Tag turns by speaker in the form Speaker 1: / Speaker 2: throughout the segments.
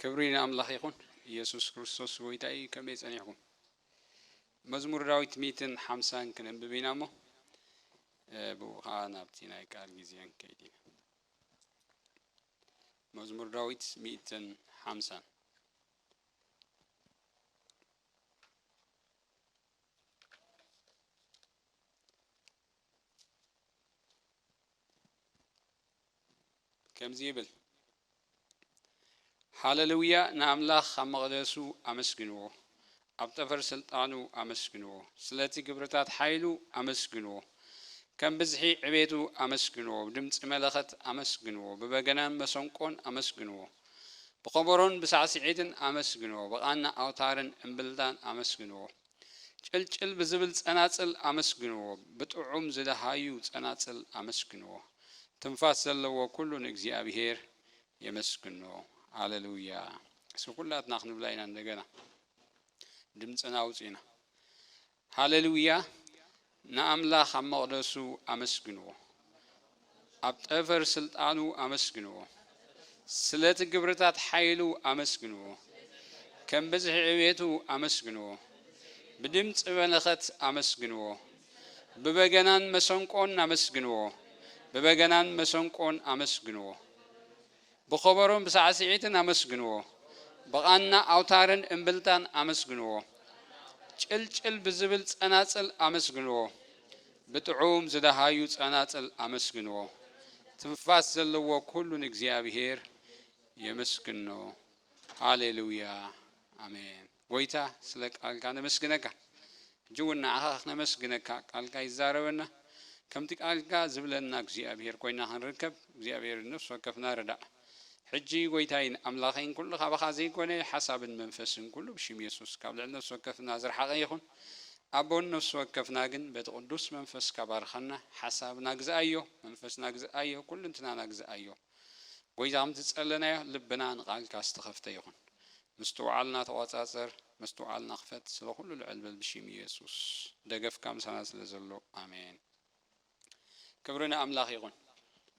Speaker 1: ክብሪ ንኣምላኽ ይኹን ኢየሱስ ክርስቶስ ጎይታ እዩ ከመይ ጸኒሕኩም መዝሙር ዳዊት ሚትን ሓምሳን ክነንብብ ኢና እሞ ብኡ ከዓ ናብቲ ናይ ቃል ግዜን ከይድ ኢና መዝሙር ዳዊት ሚትን ሓምሳን ከምዚ ይብል፣ ሃለ ልውያ ንኣምላኽ ኣብ መቕደሱ ኣመስግንዎ፣ ኣብ ጠፈር ስልጣኑ ኣመስግንዎ፣ ስለቲ ግብርታት ሓይሉ ኣመስግንዎ፣ ከም ብዝሒ ዕቤቱ ኣመስግንዎ፣ ብድምጺ መለኸት ኣመስግንዎ፣ ብበገናን መሰንቆን ኣመስግንዎ፣ ብኸበሮን ብሳዕስዒትን ኣመስግንዎ፣ ብቓና ኣውታርን እምብልታን ኣመስግንዎ። ጭልጭል ብዝብል ጸናጽል ኣመስግንዎ ብጥዑም ዝደሃዩ ጸናጽል ኣመስግንዎ ትንፋስ ዘለዎ ኩሉ ንእግዚኣብሄር የመስግኖ ኣለሉያ እስኪ ኩላትና ክንብላ ኢና እንደገና ድምጽና ኣውጺና ሃለሉያ ንኣምላኽ ኣብ መቕደሱ ኣመስግንዎ፣ ኣብ ጠፈር ስልጣኑ ኣመስግንዎ፣ ስለቲ ግብርታት ሓይሉ ኣመስግንዎ፣ ከም ብዝሒ ዕብየቱ ኣመስግንዎ፣ ብድምጺ መለኸት ኣመስግንዎ፣ ብበገናን መሰንቆን ኣመስግንዎ፣ ብበገናን መሰንቆን ኣመስግንዎ። ብኸበሮን ብሳዕስዒትን ኣመስግንዎ፣ ብቓና ኣውታርን እምብልታን ኣመስግንዎ፣ ጭልጭል ብዝብል ጸናጽል ኣመስግንዎ፣ ብጥዑም ዝደሃዩ ጸናጽል ኣመስግንዎ፣ ትንፋስ ዘለዎ ኩሉ ንእግዚኣብሄር የመስግኖ። ሃሌሉያ ኣሜን። ጎይታ ስለ ቃልካ ነመስግነካ ሕጂ ውን ንዓኻ ክነመስግነካ ቃልካ ይዛረበና ከምቲ ቃልካ ዝብለና እግዚኣብሄር ኮይና ክንርከብ እግዚኣብሄር ንነፍሲ ወከፍና ርዳእ ሕጂ ጎይታይን ኣምላኸይን ኩሉ ካባኻ ዘይኮነ ሓሳብን መንፈስን ኩሉ ብሽም የሱስ ካብ ልዕሊ ነፍሲ ወከፍና ዝረሓቐ ይኹን ኣቦ ንነፍሲ ወከፍና ግን በቲ ቅዱስ መንፈስካ ባርኸና ሓሳብና ግዝኣዮ መንፈስና ግዝኣዮ ኩልንትናና ግዝኣዮ ጎይታ ከምቲ ዝጸለናዮ ልብና ንቃልካ ዝተኸፍተ ይኹን ምስትውዓልና ተቆጻጸር ምስትውዓልና ክፈት ስለ ኩሉ ልዕል በል ብሺም ኢየሱስ ደገፍካ ምሳና ስለ ዘሎ ኣሜን ክብሪ ንኣምላኽ ይኹን።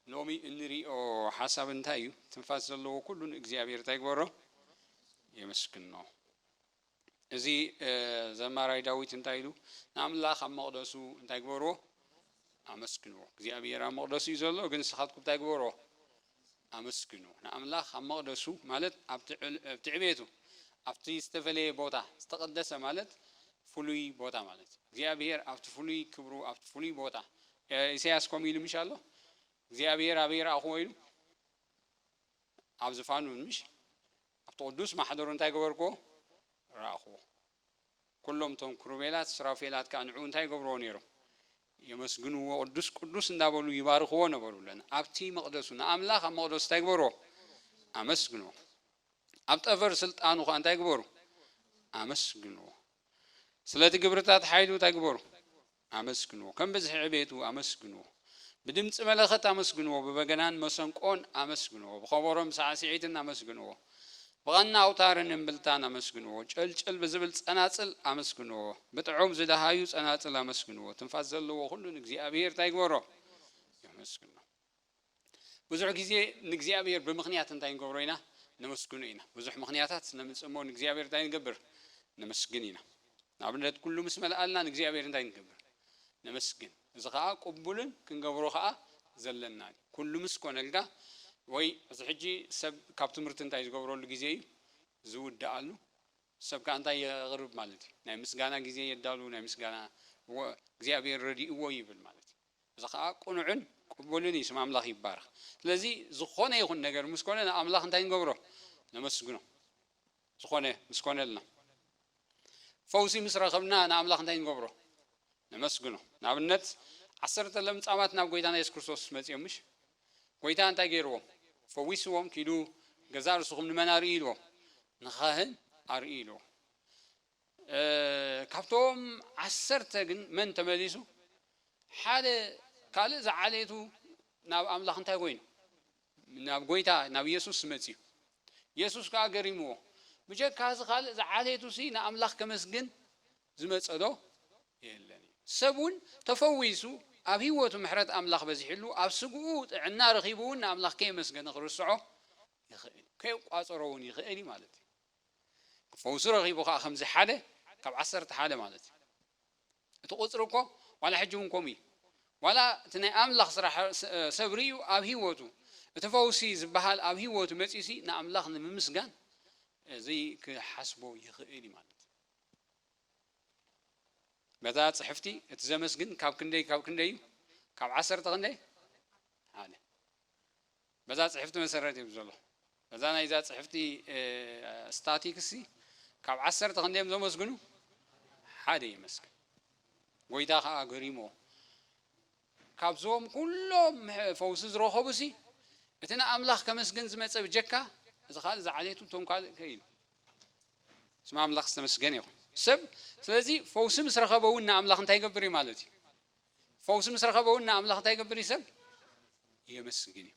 Speaker 1: ሎሚ እንሪኦ ሓሳብ እንታይ እዩ ትንፋስ ዘለዎ ኩሉ ንእግዚኣብሔር እንታይ ይግበሮ የመስግኖ እዚ ዘማራይ ዳዊት እንታይ ኢሉ ንኣምላኽ ኣብ መቕደሱ እንታይ ግበርዎ ኣመስግንዎ እግዚኣብሔር ኣብ መቕደሱ እዩ ዘሎ ግን ንስኻትኩም እንታይ ግበርዎ ኣመስግኑ። ንኣምላኽ ኣብ መቕደሱ ማለት ኣብቲ ኣብቲ ዕቤቱ ኣብቲ ዝተፈለየ ቦታ ዝተቐደሰ ማለት ፍሉይ ቦታ ማለት እዩ። እግዚኣብሄር ኣብቲ ፍሉይ ክብሩ ኣብቲ ፍሉይ ቦታ ኢሳያስ ከምኡ ኢሉ ምሽ ኣሎ እግዚኣብሄር ኣበይ ረኣኹዎ ኢሉ ኣብ ዝፋኑ ምሽ ኣብቲ ቅዱስ ማሕደሩ እንታይ ገበርኩዎ ረኣኹዎ ኩሎም እቶም ክሩቤላት ሱራፌላት ከኣ ንዕኡ እንታይ ይገብርዎ ነይሮም? የመስግንዎ፣ ቅዱስ ቅዱስ እንዳበሉ ይባርኽዎ ነበሩ። ለን ኣብቲ መቕደሱ ንኣምላኽ ኣብ መቕደሱ እንታይ ግበርዎ? ኣመስግንዎ። ኣብ ጠፈር ስልጣኑ ከኣ እንታይ ግበሩ? ኣመስግንዎ። ስለቲ ግብርታት ሓይሉ እንታይ ግበሩ? ኣመስግንዎ ከም ብዝሒ ዕቤቱ ኣመስግንዎ ብድምጺ መለኸት ኣመስግንዎ ብበገናን መሰንቆን ኣመስግንዎ ብኸበሮን ሳዕስዒትን ኣመስግንዎ ብቐና ኣውታርን እምብልታን ኣመስግንዎ ጨልጨል ብዝብል ጸናጽል ኣመስግንዎ ብጥዑም ዝደሃዩ ጸናጽል ኣመስግንዎ ትንፋስ ዘለዎ ኩሉ ንእግዚኣብሄር እንታይ ይግበሮ የመስግኖ። ብዙሕ ግዜ ንእግዚኣብሔር ብምኽንያት እንታይ ንገብሮ ኢና? ነመስግኖ ኢና። ብዙሕ ምኽንያታት ነምጽእ እሞ ንእግዚኣብሔር እንታይ ንገብር? ነመስግን ኢና። ንኣብነት ኩሉ ምስ መልኣልና ንእግዚኣብሔር እንታይ ንገብር? ነመስግን። እዚ ከኣ ቅቡልን ክንገብሮ ከኣ ዘለናን እዩ። ኩሉ ምስ ኮነልካ ወይ እዚ ሕጂ ሰብ ካብ ትምህርቲ እንታይ ዝገብረሉ ግዜ እዩ? ዝውድኣሉ። ሰብ ከኣ እንታይ የቕርብ ማለት እዩ? ናይ ምስጋና ግዜ የዳሉ፣ ናይ ምስጋና እወ እግዚኣብሔር ረዲእዎ ይብል ማለት እዩ። እዚ ከኣ ቅኑዕን ቅቡልን እዩ ስም ኣምላኽ ይባረኽ ስለዚ ዝኾነ ይኹን ነገር ምስ ኮነ ንኣምላኽ እንታይ ንገብሮ ነመስግኖ ዝኾነ ምስ ኮነልና ፈውሲ ምስ ረኸብና ንኣምላኽ እንታይ ንገብሮ ነመስግኖ ንኣብነት ዓሰርተ ለምጻማት ናብ ጎይታና የሱስ ክርስቶስ መጺኦም ምሽ ጎይታ እንታይ ገይርዎም ፈዊስዎም ኪዱ ገዛ ርስኹም ንመን ኣርኢ ኢልዎም ንኻህን ኣርኢ ኢልዎ ካብቶም ዓሰርተ ግን መን ተመሊሱ? ሓደ ካልእ ዝዓሌቱ ናብ ኣምላኽ እንታይ ኮይኑ? ናብ ጐይታ ናብ የሱስ መጺኡ። የሱስ ከኣ ገሪምዎ፣ ብጀካ እዚ ካልእ ዝዓሌቱሲ ንኣምላኽ ከመስግን ዝመጸዶ የለን ኢሉ። ሰብ እውን ተፈዊሱ ኣብ ህይወቱ ምሕረት ኣምላኽ በዚሕሉ ኣብ ስግኡ ጥዕና ረኺቡ እውን ንኣምላኽ ከየመስገነ ክርስዖ ይኽእል እዩ፣ ከየቋጸሮ እውን ይኽእል እዩ ማለት እዩ። ፈውሱ ረኺቡ ከኣ ከምዚ ሓደ ካብ ዓሰርተ ሓደ ማለት እዩ እቲ ቁጽሪ እኮ ዋላ ሕጂ ውን ከምኡ እዩ ዋላ እቲ ናይ ኣምላኽ ስራሕ ሰብ ርእዩ ኣብ ሂወቱ እቲ ፈውሲ ዝበሃል ኣብ ሂወቱ መጽዩሲ ንኣምላኽ ንምምስጋን ዘይክሓስቦ ይኽእል እዩ ማለት በዛ ጽሕፍቲ እቲ ዘመስግን ካብ ክንደይ ካብ ክንደይ እዩ ካብ ዓሰርተ ክንደይ ሓደ በዛ ጽሕፍቲ መሰረት እዩ ዘሎ። በዛ ናይዛ ጽሕፍቲ ስታቲክሲ ካብ ዓሰርተ ክንደዮም ዘመስግኑ? ሓደ ይመስግን። ጎይታ ከኣ ገሪሞ ካብዞም ኩሎም ፈውሲ ዝረኸቡሲ እቲ ንኣምላኽ ከመስገን ዝመጸ ብጀካ እዚ ካልእ ዝዓሌቱ እቶም ካልእ ከኢሉ ስም ኣምላኽ ዝተመስገነ ይኹን ሰብ ስለዚ ፈውሲ ምስ ረኸበ እውን ንኣምላኽ እንታይ ይገብር እዩ ማለት እዩ ፈውሲ ምስ ረኸበ እውን ንኣምላኽ እንታይ ይገብር እዩ ሰብ የመስግን እዩ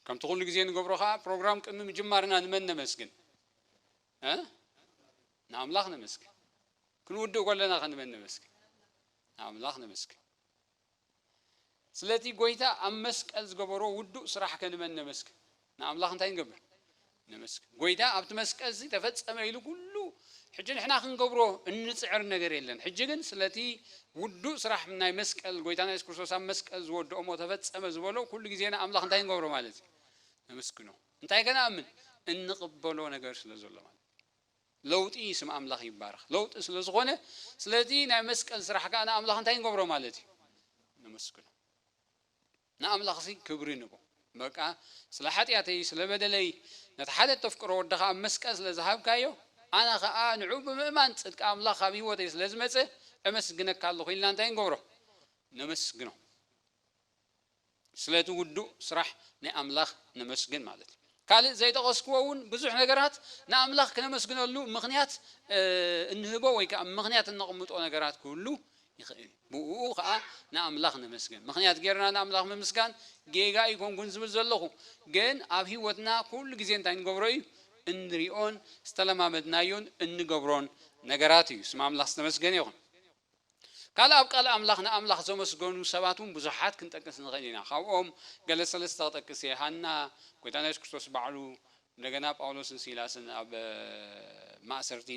Speaker 1: ከምቲ ኩሉ ግዜ ንገብሮ ከዓ ፕሮግራም ቅድሚ ምጅማርና ንመን ነመስግን ንኣምላኽ ነመስግን ክንውድእ ከለና ከ ንመን ነመስግን ንኣምላኽ ነመስግን ስለቲ ጎይታ ኣብ መስቀል ዝገበሮ ውዱእ ስራሕ ከ ንመን ነመስግን? ንኣምላኽ እንታይ ንገብር? ነመስግን። ጎይታ ኣብቲ መስቀልሲ ተፈጸመ ኢሉ ኩሉ ሕጂ ንሕና ክንገብሮ እንጽዕር ነገር የለን። ሕጂ ግን ስለቲ ውዱእ ስራሕ ናይ መስቀል ጎይታና የሱስ ክርስቶስ ኣብ መስቀል ዝወደኦ እሞ ተፈጸመ ዝበሎ ኩሉ ግዜ ንኣምላኽ እንታይ ንገብሮ ማለት እዩ? ነመስግኖ። እንታይ ከነኣምን? እንቕበሎ ነገር ስለ ዘሎ ማለት እዩ። ለውጢ እዩ ስም ኣምላኽ ይባረኽ ለውጢ ስለ ዝኾነ ስለዚ ናይ መስቀል ስራሕ ከኣ ንኣምላኽ እንታይ ንገብሮ ማለት እዩ ነመስግኖ ንኣምላኽሲ ክብሪ ንቦ በቃ ስለ ሓጢኣተይ ስለ በደለይ ነቲ ሓደ እተፍቅሮ ወድኻ ኣብ መስቀል ስለ ዝሃብካዮ ኣነ ከኣ ንዑ ብምእማን ጽድቂ ኣምላኽ ኣብ ህይወተይ ስለ ዝመጸ እመስግነካ ኣለኹ ኢልና እንታይ ንገብሮ ነመስግኖ ስለቲ ውዱእ ስራሕ ናይ ኣምላኽ ነመስግን ማለት እዩ። ካልእ ዘይጠቐስክዎ እውን ብዙሕ ነገራት ንኣምላኽ ክነመስግነሉ ምኽንያት እንህቦ ወይ ከኣ ምኽንያት እነቕምጦ ነገራት ክህሉ ይኽእል እዩ። ብእኡ ኸኣ ንኣምላኽ ነመስግን። ምኽንያት ጌርና ንኣምላኽ ምምስጋን ጌጋ ኣይኰንኩን ዝብል ዘለኹ። ግን ኣብ ህይወትና ኩሉ ግዜ እንታይ ንገብሮ እዩ? እንርእዮን ዝተለማመድናዮን እንገብሮን ነገራት እዩ። ስም ኣምላኽ ዝተመስገነ ይኹን። ካልእ ኣብ ቃል ኣምላኽ ንኣምላኽ ዘመስገኑ ሰባት እውን ብዙሓት ክንጠቅስ ንኽእል ኢና። ካብኦም ገለ ሰለስተ ክጠቅስ እየ፣ ሃና፣ ጐይታና የሱስ ክርስቶስ ባዕሉ፣ እንደገና ጳውሎስን ሲላስን ኣብ ማእሰርቲ፣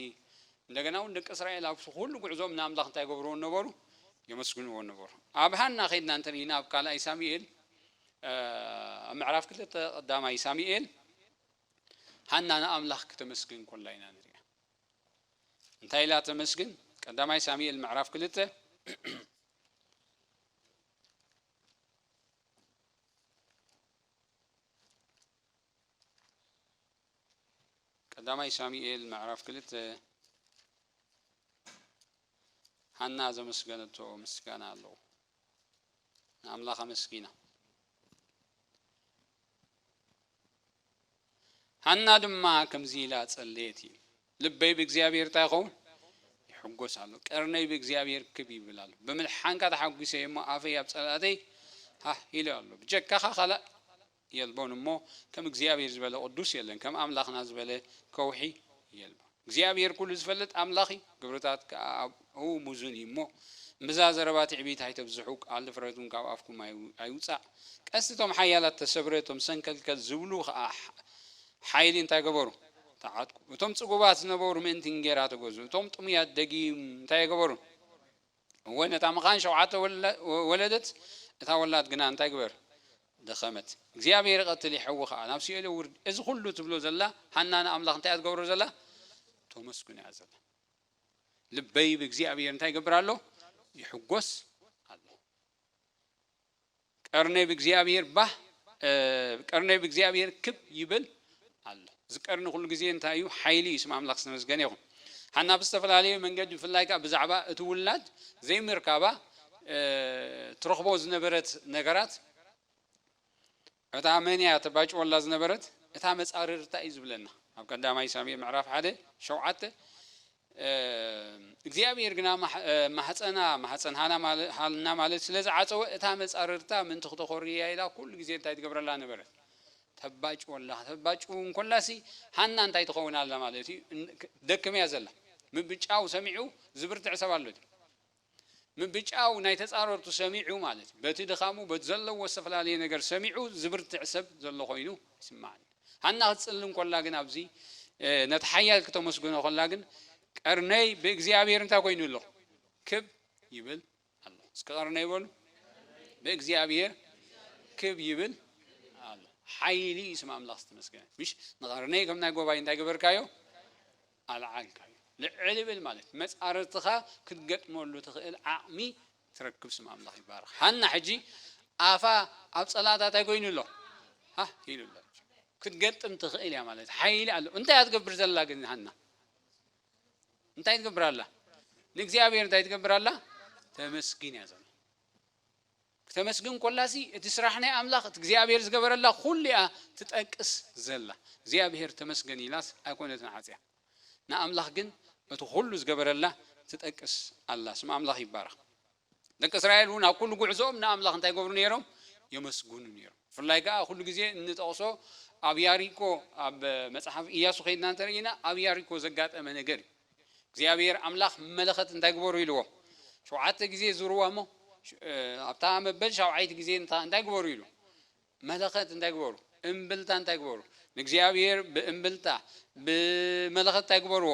Speaker 1: እንደገና እውን ደቂ እስራኤል ኣብቲ ኵሉ ጕዕዞኦም ንኣምላኽ እንታይ ይገብርዎ ነበሩ? የመስግንዎ ነበሩ። ኣብ ሃና ኬድና እንተ ርኢና ኣብ ካልኣይ ሳሙኤል ኣብ ምዕራፍ ክልተ ቀዳማይ ሳሙኤል ሃና ንኣምላኽ ክተመስግን ከላ ኢና ንሪኣ። እንታይ ኢላ ተመስግን? ቀዳማይ ሳሙኤል ምዕራፍ ክልተ ቀዳማይ ሳሙኤል ምዕራፍ ክልተ ሃና ዘመስገነቶ ምስጋና ኣለዎ። ንኣምላኽ ኣመስጊና። ሃና ድማ ከምዚ ኢላ ጸለየት እዩ ልበይ ብእግዚኣብሔር እንታይ ይኸውን ይሕጎስ ኣሎ ቀርነይ ብእግዚኣብሔር ክብ ይብል ኣሎ ብምልሓንካ ተሓጒሰ እሞ ኣፈይ ኣብ ጸላእተይ ሃህ ኢሉ ኣሎ ብጀካኻ ካልእ የልቦን እሞ ከም እግዚኣብሔር ዝበለ ቅዱስ የለን ከም ኣምላክና ዝበለ ከውሒ የልቦን እግዚኣብሔር ኩሉ ዝፈልጥ ኣምላክ እዩ ግብርታት ከኣ ኣብኡ ሙዙን እዩ እሞ እምብዛ ዘረባ ትዕቢት ኣይተብዝሑ ቃል ድፍረት እውን ካብ ኣፍኩም ኣይውጻእ ቀስቲ እቶም ሓያላት ተሰብረ እቶም ሰንከልከል ዝብሉ ከኣ ሓይሊ እንታይ ገበሩ ተዓጥቁ እቶም ጽጉባት ዝነበሩ ምእንቲ እንጌራ ተገዙ እቶም ጥሙያት ደጊም እንታይ ኣይገበሩን እወ ነታ መኻን ሸውዓተ ወለደት እታ ወላድ ግና እንታይ ግበር ደኸመት እግዚኣብሄር ይቐትል ይሐዊ ኸኣ ናብ ሲኦል የውርድ እዚ ኹሉ ትብሎ ዘላ ሃና ንኣምላኽ እንታይ እያ ትገብሮ ዘላ ተመስግኖ እያ ዘላ ልበይ ብእግዚኣብሄር እንታይ ይገብር ኣሎ ይሕጎስ ኣሎ ቀርነይ ብእግዚኣብሄር ባህ ቀርነይ ብእግዚኣብሄር ክብ ይብል ኣሎ እዚ ቀርኒ ኩሉ ግዜ እንታይ እዩ ሓይሊ እዩ ስም ኣምላኽ ዝተመስገነ ይኹን ሓና ብዝተፈላለየ መንገዲ ብፍላይ ከዓ ብዛዕባ እቲ ውላድ ዘይምርካባ ትረኽቦ ዝነበረት ነገራት እታ መን እያ ተባጭወላ ዝነበረት እታ መጻርር እታይ እዩ ዝብለና ኣብ ቀዳማይ ሳሙኤል ምዕራፍ ሓደ ሸውዓተ እግዚኣብሔር ግና ማህፀና ማህፀን ሃና ማለት ስለ ዝዓፀወ እታ መጻርርታ ምእንቲ ክተኾሪ እያ ኢላ ኩሉ ግዜ እንታይ ትገብረላ ነበረት ተባጭወላ ተባጭው እንኮላሲ ሃና እንታይ ትኸውን ኣላ ማለት እዩ ደክም እያ ዘላ ምብጫው ሰሚዑ ዝብርትዕ ሰብ ኣሎ ድዩ ምብጫው ናይ ተጻረርቱ ሰሚዑ ማለት በቲ ድኻሙ በቲ ዘለዎ ዝተፈላለየ ነገር ሰሚዑ ዝብርትዕ ሰብ ዘሎ ኮይኑ ይስማዓኒ ሃና ክትጽልም ኮላ ግን ኣብዚ ነቲ ሓያል ክተመስግኖ ኮላ ግን ቀርነይ ብእግዚኣብሔር እንታይ ኮይኑ ኣሎ ክብ ይብል ኣሎ እስከ ቀርነይ በሉ ብእግዚኣብሔር ክብ ይብል ኣሎ ሓይሊ ስም ኣምላኽ ዝተመስገነ ምሽ ንቀርነይ ከም ናይ ጎባይ እንታይ ገበርካዮ ኣልዓልካዮ ልዕል ይብል ማለት መጻርርትኻ ክትገጥመሉ ትኽእል ዓቕሚ ትረክብ ስም ኣምላኽ ይባረኽ ሃና ሕጂ ኣፋ ኣብ ጸላእታ ታይ ኮይኑ ኣሎ ሃህ ኢሉ ኣሎ ክትገጥም ትኽእል እያ ማለት ሓይሊ ኣሎ እንታይ እያ ትገብር ዘላ ግን ሃና እንታይ ትገብር ኣላ ንእግዚኣብሔር እንታይ ትገብር ኣላ ተመስግን እያ ዘላ ክተመስግን ኮላሲ እቲ ስራሕ ናይ ኣምላኽ እቲ እግዚኣብሄር ዝገበረላ ኩሉ ኢያ ትጠቅስ ዘላ እግዚኣብሄር ተመስገን ኢላስ ኣይኮነትን ዓጽያ ንኣምላኽ ግን እቲ ኩሉ ዝገበረላ ትጠቅስ ኣላ ስም ኣምላኽ ይባረኽ ደቂ እስራኤል ውን ኣብ ኩሉ ጉዕዞኦም ንኣምላኽ እንታይ ይገብሩ ኔሮም የመስግኑ ኔሮም ብፍላይ ከኣ ኩሉ ግዜ እንጠቕሶ ኣብ ያሪኮ ኣብ መጽሓፍ ኢያሱ ከይድና እንተርኢና ኣብ ያሪኮ ዘጋጠመ ነገር ኢዩ እግዚኣብሄር ኣምላኽ መለኸት እንታይ ግበሩ ኢልዎ? ሸውዓተ ግዜ ዙርዋ እሞ ኣብታ መበል ሻውዓይቲ ግዜ እንታይ ግበሩ ኢሉ? መለኸት እንታይ ግበሩ? እምብልታ እንታይ ግበሩ? ንእግዚኣብሄር ብእምብልታ ብመለኸት እንታይ ግበርዎ?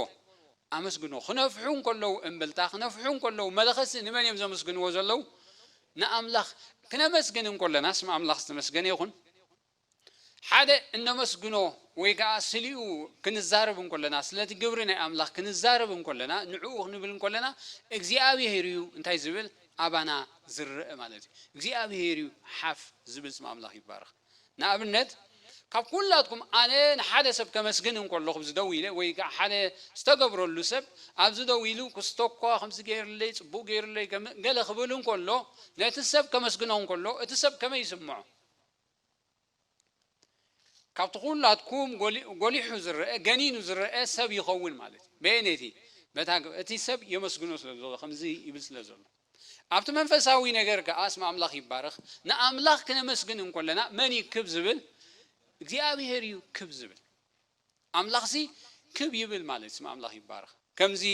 Speaker 1: ኣመስግንዎ። ክነፍሑ እንከለዉ እምብልታ፣ ክነፍሑ እንከለዉ መለኸትሲ ንመን እዮም ዘመስግንዎ ዘለዉ? ንኣምላኽ። ክነመስግን እንከሎና ስም ኣምላኽ ዝተመስገነ ይኹን። ሓደ እነመስግኖ ወይ ከኣ ስሊኡ ክንዛረብ እንኮለና ስለቲ ግብሪ ናይ ኣምላኽ ክንዛረብ እንኮለና ንዕኡ ክንብል እንኮለና እግዚኣብሄር እዩ እንታይ ዝብል ኣባና ዝረእ ማለት እዩ እግዚኣብሄር እዩ ሓፍ ዝብል ስም ኣምላኽ ይባረኽ ንኣብነት ካብ ኩላትኩም ኣነ ንሓደ ሰብ ከመስግን እንኮለኹ ኣብዚ ደው ኢለ ወይ ከኣ ሓደ ዝተገብረሉ ሰብ ኣብዚ ደው ኢሉ ክስቶኳ ከምዚ ገይርለይ ጽቡቅ ገይርለይ ገለ ክብል እንኮሎ ነቲ ሰብ ከመስግኖ እንኮሎ እቲ ሰብ ከመይ ይስምዖ ካብቲ ኩላትኩም ጎሊሑ ዝረኣ ገኒኑ ዝረኣ ሰብ ይኸውን ማለት እዩ። በየነይቲ? በታ እቲ ሰብ የመስግኖ ስለ ዘሎ ከምዚ ይብል ስለ ዘሎ። ኣብቲ መንፈሳዊ ነገር ከኣ ስም ኣምላኽ ይባረኽ። ንኣምላኽ ክነመስግን እንከለና መን እዩ ክብ ዝብል? እግዚኣብሄር እዩ ክብ ዝብል። ኣምላኽሲ ክብ ይብል ማለት ስም ኣምላኽ ይባረኽ። ከምዚ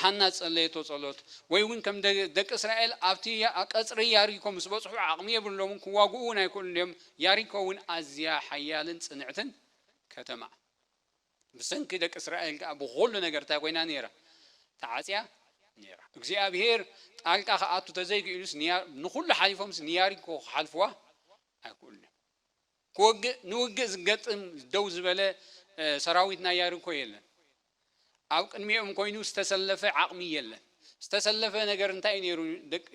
Speaker 1: ሃና ዝጸለየቶ ጸሎት ወይ ውን ከም ደቂ እስራኤል ኣብቲ ቀጽሪ ያሪኮ ምስ በጽሑ ዓቅሚ የብሎምን ክዋግኡ ውን ኣይክእሉን እዮም ያሪኮ ውን ኣዝያ ሓያልን ጽንዕትን ከተማ ብሰንኪ ደቂ እስራኤል ከኣ ብኹሉ ነገር እንታይ ኮይና ኔራ ተዓጽያ ኔራ እግዚኣብሄር ጣልቃ ክኣቱ ተዘይኪኢሉስ ንኹሉ ሓሊፎምስ ንያሪኮ ክሓልፍዋ ኣይክእሉን እዮም። ክወግእ ንውግእ ዝገጥም ደው ዝበለ ሰራዊት ናይ ያሪኮ የለን ኣብ ቅድሚኦም ኮይኑ ዝተሰለፈ ዓቅሚ የለን ዝተሰለፈ ነገር እንታይ እዩ ነይሩ ደቂ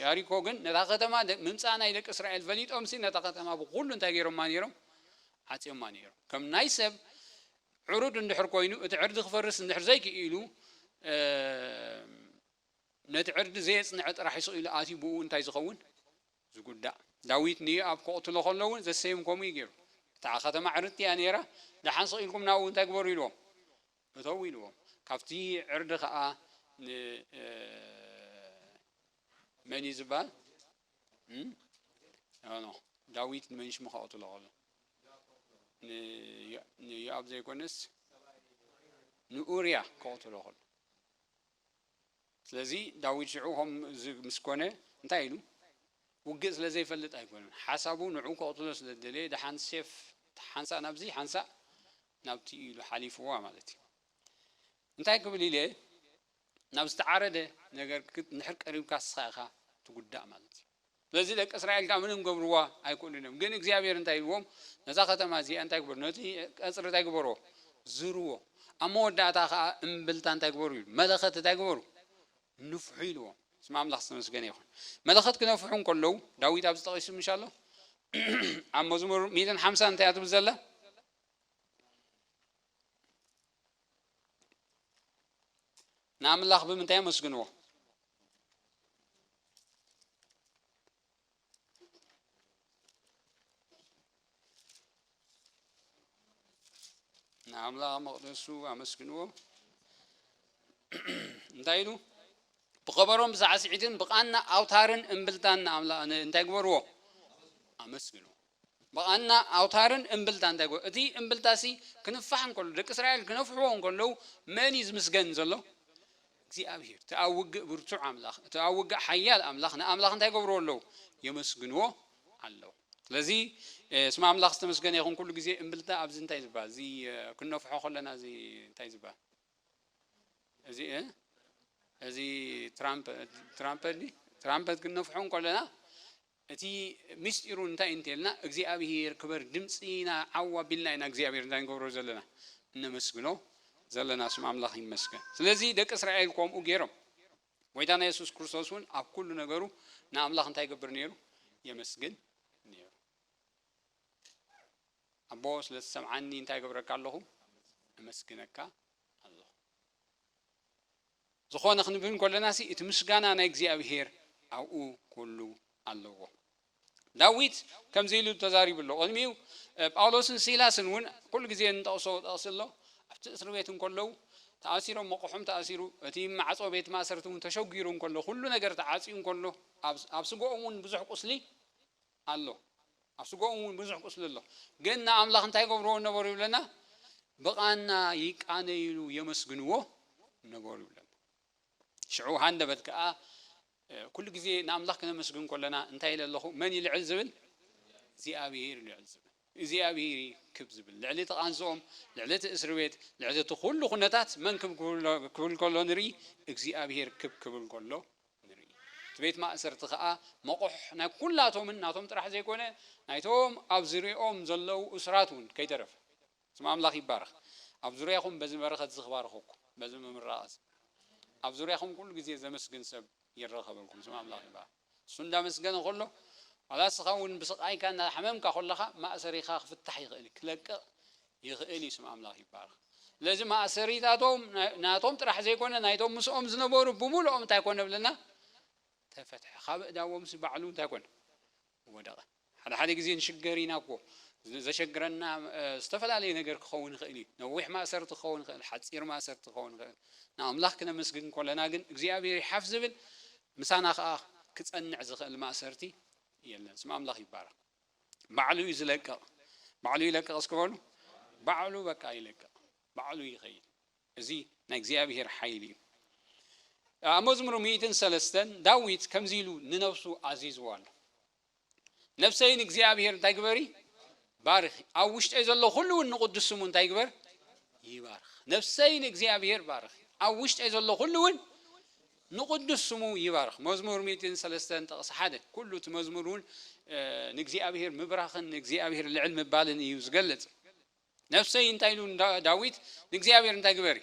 Speaker 1: ያሪኮ ግን ነታ ከተማ ምምጻእ ናይ ደቂ እስራኤል ፈሊጦምሲ ነታ ከተማ ብኩሉ እንታይ ገይሮማ ነይሮም ዓጽዮማ ነይሮም ከም ናይ ሰብ ዕሩድ እንድሕር ኮይኑ እቲ ዕርዲ ክፈርስ እንድሕር ዘይክኢሉ ነቲ ዕርዲ ዘየጽንዐ ጥራሕ ስቕ ኢሉ ኣትዩ ብእኡ እንታይ ዝኸውን ዝጉዳእ። ዳዊት ንዮኣብ ከቕትሎ ከሎ እውን ዘሰዮም ከምኡ እዩ ገይሩ። እታ ኸተማ ዕርድቲ እያ ነይራ፣ ደሓን ስቕ ኢልኩም ናብኡ እንታይ ግበሩ ኢልዎም? እተዉ ኢልዎም። ካብቲ ዕርዲ ኸኣ ን መን እዩ ዝበሃል? ኖ ኖ ዳዊት ንመን ሽሙ ከቕትሎ ከሎ ንዮኣብ ዘይኮነስ ንኡርያ ከቕትሎ ከሎ ስለዚ ዳዊት ሽዑ ከምዚ ምስ ኮነ እንታይ ኢሉ? ውግእ ስለ ዘይፈልጥ ኣይኮነን። ሓሳቡ ንዕኡ ከቕትሎ ስለ ዝደለየ ደሓን ሴፍ ሓንሳእ ናብዚ ሓንሳእ ናብቲ ኢሉ ሓሊፍዋ ማለት እዩ። እንታይ ክብል ኢለ ናብ ዝተዓረደ ነገር እንድሕር ቀሪብካ እስኻ ኢኻ ትጉዳእ ማለት እዩ። ስለዚ ደቂ እስራኤል ከኣ ምንም ክገብርዋ ኣይክእሉን እዮም። ግን እግዚኣብሄር እንታይ ኢልዎም፣ ነዛ ኸተማ እዚኣ እንታይ ግበሩ፣ ነቲ ቀጽሪ እንታይ ግበርዎ፣ ዝርዎ፣ ኣብ መወዳእታ ኸኣ እምብልታ እንታይ ግበሩ ኢሉ፣ መለኸት እንታይ ግበሩ፣ ንፍሑ ኢልዎም። ስም ኣምላኽ ዝተመስገነ ይኹን። መለኸት ክነፍሑ እንከለዉ፣ ዳዊት ኣብዚ ጠቒሱ ምሽ ኣሎ፣ ኣብ መዝሙር ሚእትን ሓምሳን እንታይ እያ ትብል ዘላ፣ ንኣምላኽ ብምንታይ ኣመስግንዎ? ንኣምላኽ መቕደሱ ኣመስግንዎ እንታይ ኢሉ ብኸበሮን ብሳዕስዒትን ብቓና ኣውታርን እምብልታን ንኣምላኽ እንታይ ግበርዎ ኣመስግንዎ ብቐና ኣውታርን እምብልታ እንታይ ኮን? እቲ እምብልታሲ ክንፋሕ እንከሎ፣ ደቂ እስራኤል ክነፍሕዎ እንከለዉ መን እዩ ዝምስገን ዘሎ? እግዚኣብሄር፣ እቲ ኣብ ውግእ ብርቱዕ ኣምላኽ፣ እቲ ኣብ ውግእ ሓያል ኣምላኽ፣ ንኣምላኽ እንታይ ይገብርዎ ኣለዉ? የመስግንዎ ኣለዉ። ስለዚ ስም ኣምላኽ ዝተመስገነ ይኹን፣ ኩሉ ግዜ እምብልታ ኣብዚ እንታይ እዩ ዝበሃል? እዚ ክንነፍሖ ከለና እዚ እንታይ እዩ ዝበሃል? እዚ እ እዚ ትራምፐ ትራምፐ ትራምፐት ክንነፍሖ እንከለና እቲ ምስጢሩ እንታይ እዩ እንተልና እግዚኣብሄር ክበር ድምጺ ኢና ዓው ኣቢልና ኢና እግዚኣብሄር እንታይ ንገብሮ ዘለና እነመስግኖ ዘለና ስም ኣምላኽ ይመስገን ስለዚ ደቂ እስራኤል ኮምኡ ጌሮም ጎይታና የሱስ ክርስቶስ እውን ኣብ ኩሉ ነገሩ ንኣምላኽ እንታይ ይገብር ነይሩ የመስግን ነይሩ ኣቦ ስለ ዝሰምዓኒ እንታይ ገብረካ ኣለኹ እመስግነካ ዝኾነ ክንብል እንከሎናሲ እቲ ምስጋና ናይ እግዚኣብሄር ኣብኡ ኩሉ ኣለዎ። ዳዊት ከምዚ ኢሉ ተዛሪቡ ኣሎ ቅድሚኡ ጳውሎስን ሲላስን እውን ኩሉ ግዜ እንጠቕሶ ጥቕሲ ኣሎ ኣብቲ እስሪ ቤት እንከለዉ ተኣሲሮም መቑሖም ተኣሲሩ እቲ ማዕጾ ቤት ማእሰርቲ እውን ተሸጒሩ እንከሎ ኩሉ ነገር ተዓጽዩ እንከሎ ኣብ ስግኦም እውን ብዙሕ ቁስሊ ኣሎ ኣብ ስጋኦም ውን ብዙሕ ቁስሊ ኣሎ ግን ንኣምላኽ እንታይ ይገብርዎ ነበሩ ይብለና ብቓና ይቃነይሉ የመስግንዎ ነበሩ ይብለና ሽዑ ሃንደበት ከኣ ኩሉ ግዜ ንኣምላኽ ክነመስግን ከለና እንታይ ኢለ ኣለኹ መን ይልዕል ዝብል እግዚኣብሄር ልዕል ዝብል እግዚኣብሄር ክብ ዝብል ልዕሊ እቲ ቃንዝኦም ልዕሊ እቲ እስሪ ቤት ልዕሊ እቲ ኩሉ ኩነታት መን ክብ ክብል ከሎ ንርኢ እግዚኣብሄር ክብ ክብል ከሎ ንርኢ። እቲ ቤት ማእሰርቲ ከኣ መቑሕ ናይ ኩላቶምን ናቶም ጥራሕ ዘይኮነ ናይቶም ኣብ ዝርይኦም ዘለዉ እሱራት ውን ከይተረፈ። ስም ኣምላኽ ይባረኽ። ኣብ ዙርያኹም በዚ በረኸት እዚ ክባርኸኩም። በዚ ምምራቕ እዚ። ኣብ ዙርያኹም ኩሉ ግዜ ዘመስግን ሰብ ይረኸበልኩም። ስም ኣምላኽ ይባረኽ። እሱ እንዳመስገነ ከሎ ዋላ እስኻ ውን ብስቓይካ እንዳሓመምካ ከለኻ ማእሰሪኻ ክፍታሕ ይኽእል እዩ። ክለቅቕ ይኽእል እዩ ስም ኣምላኽ ይባረኽ። ስለዚ ማእሰሪታቶም ናቶም ጥራሕ ዘይኮነ ናይቶም ምስኦም ዝነበሩ ብምልኦም እንታይ ኮነ ብለና ተፈትሐ ካብ እዳዎምስ ባዕሉ እንታይ ኮነ ወደቐ። ሓደ ሓደ ግዜ ንሽገር ኢና እኮ ዘሸግረና ዝተፈላለየ ነገር ክኸውን ይኽእል እዩ። ነዊሕ ማእሰርቲ ክኸውን ይኽእል፣ ሓፂር ማእሰርቲ ክኸውን ይኽእል። ንኣምላኽ ክነመስግን ኮለና ግን እግዚኣብሔር ይሓፍ ዝብል ምሳና ከዓ ክፀንዕ ዝኽእል ማእሰርቲ የለን። ስም ኣምላኽ ይባረኽ። ባዕሉ እዩ ዝለቅቕ ባዕሉ ይለቅቕ እስኪ በሉ ባዕሉ በቃ ይለቅቕ ባዕሉ ይኸይድ እዚ ናይ እግዚኣብሄር ሓይሊ እዩ ኣብ መዝሙር ሚእትን ሰለስተን ዳዊት ከምዚ ኢሉ ንነብሱ ኣዚዝዎ ኣሎ ነብሰይ ንእግዚኣብሄር እንታይ ግበሪ ባርኺ ኣብ ውሽጠይ ዘሎ ኩሉ እውን ንቕዱስ ስሙ እንታይ ግበር ይባርኽ ነብሰይ ንእግዚኣብሄር ባርኺ ኣብ ውሽጠይ ዘሎ ኩሉ እውን ንቕዱስ ስሙ ይባርኽ። መዝሙር ሚእትን ሰለስተን ጥቕሲ ሓደ፣ ኩሉ እቲ መዝሙር እውን ንእግዚኣብሄር ምብራኽን ንእግዚኣብሄር ልዕል ምባልን እዩ ዝገልጽ። ነፍሰይ እንታይ ኢሉ ዳዊት፣ ንእግዚኣብሄር እንታይ ግበሪ፣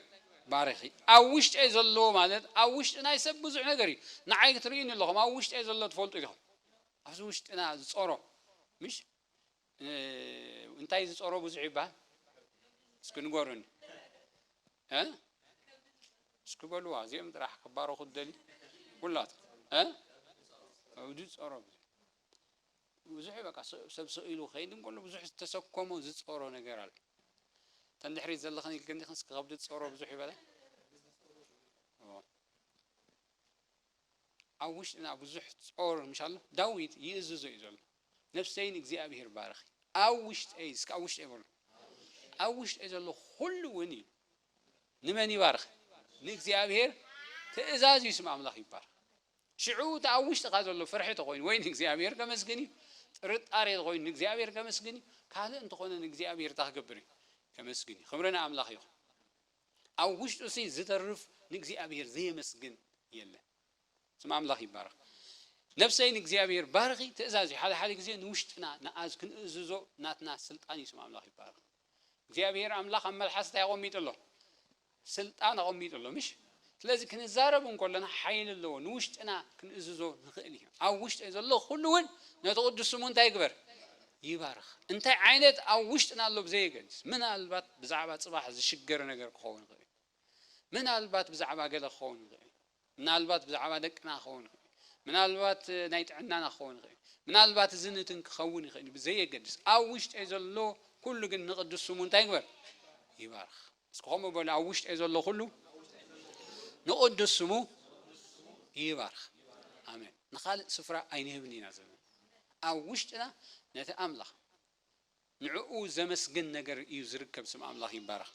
Speaker 1: ባርኺ። ኣብ ውሽጠይ ዘሎ ማለት ኣብ ውሽጢ ናይ ሰብ ብዙሕ ነገር እዩ። ንዓይ ትርእዩኒ ኣለኹም፣ ኣብ ውሽጠይ ዘሎ ትፈልጡ ኢኹም። ኣብዚ ውሽጥና ዝጸሮ ምሽ እንታይ ዝጸሮ ብዙሕ ይበሃል እስኪ ንገሩኒ። እ እስኪ በልዋ እዚኦም ጥራሕ ክባረኹ ትደልዩ ኩላቶም እ እብዲ ጸሮ ብዙሕ በቃ ሰብ ሰው ኢሉ ከይድ እንከሎ ብዙሕ ዝተሰኮሞ ዝጸሮ ነገር ኣለ ተን ድሕሪት ዘለኽን ኢልክን ዲኽን እስኪ ከብዲ ጸሮ ብዙሕ ይበላ ኣብ ውሽጥና ብዙሕ ጾር ምሽ ኣሎ ዳዊት ይእዝዞ እዩ ዘሎ ነፍሰይ ንእግዚኣብሄር ባርኺ ኣብ ውሽጠይ እስከ ኣብ ውሽጠይ በሉ ኣብ ውሽጠይ ዘሎ ኩሉ እውን እዩ ንመን ይባርኽ ንእግዚኣብሄር ትእዛዝ እዩ ስም ኣምላኽ ይባርኽ ሽዑ እቲ ኣብ ውሽጥካ ዘሎ ፍርሒ ተኮይኑ ወይ ንእግዚኣብሄር ከመስግን እዩ ጥርጣሬ ተኮይኑ ንእግዚኣብሄር ከመስግን እዩ ካልእ እንተኾነ ንእግዚኣብሄር እታ ክገብር እዩ ከመስግን እዩ ክብሪ ንኣምላኽ ይኹን ኣብ ውሽጡሲ ዝተርፍ ንእግዚኣብሄር ዘየመስግን የለን ስም ኣምላኽ ይባረኽ ነፍሰይ ንእግዚኣብሄር ባርኺ ትእዛዝ እዩ ሓደ ሓደ ግዜ ንውሽጥና ንኣዝ ክንእዝዞ ናትና ስልጣን እዩ ስም ኣምላኽ ይባረኽ እግዚኣብሄር ኣምላኽ ኣብ መልሓስ እንታይ ኣቐሚጡ ኣሎ ስልጣን ኣቐሚጡ ኣሎ ምሽ ስለዚ ክንዛረብ እንከሎና ሓይሊ ኣለዎ፣ ንውሽጥና ክንእዝዞ ንኽእል ኢና። ኣብ ውሽጠይ ዘሎ ዅሉ እውን ነቲ ቕዱስ ስሙ እንታይ ይግበር? ይባርኽ። እንታይ ዓይነት ኣብ ውሽጥና ኣሎ ብዘየገድስ፣ ምናልባት ብዛዕባ ጽባሕ ዝሽገር ነገር ክኸውን ይኽእል እዩ። ምናልባት ብዛዕባ ገለ ክኸውን ይኽእል እዩ። ምናልባት ብዛዕባ ደቅና ክኸውን ይኽእል እዩ። ምናልባት ናይ ጥዕናና ክኸውን ይኽእል እዩ። ምናልባት እዚ ንትን ክኸውን ይኽእል እዩ፣ ብዘየገድስ ኣብ ውሽጠይ ዘሎ ኵሉ ግን ንቕዱስ ስሙ እንታይ ይግበር? ይባርኽ። እስኪ ከምኡ በሉ ኣብ ውሽጠይ ዘሎ ኩሉ ንቅዱስ ስሙ ይባርኽ ኣሜን ንካልእ ስፍራ ኣይንህብን ኢና ዘመን ኣብ ውሽጥና ነቲ ኣምላኽ ንዕኡ ዘመስግን ነገር እዩ ዝርከብ ስም ኣምላኽ ይባረኽ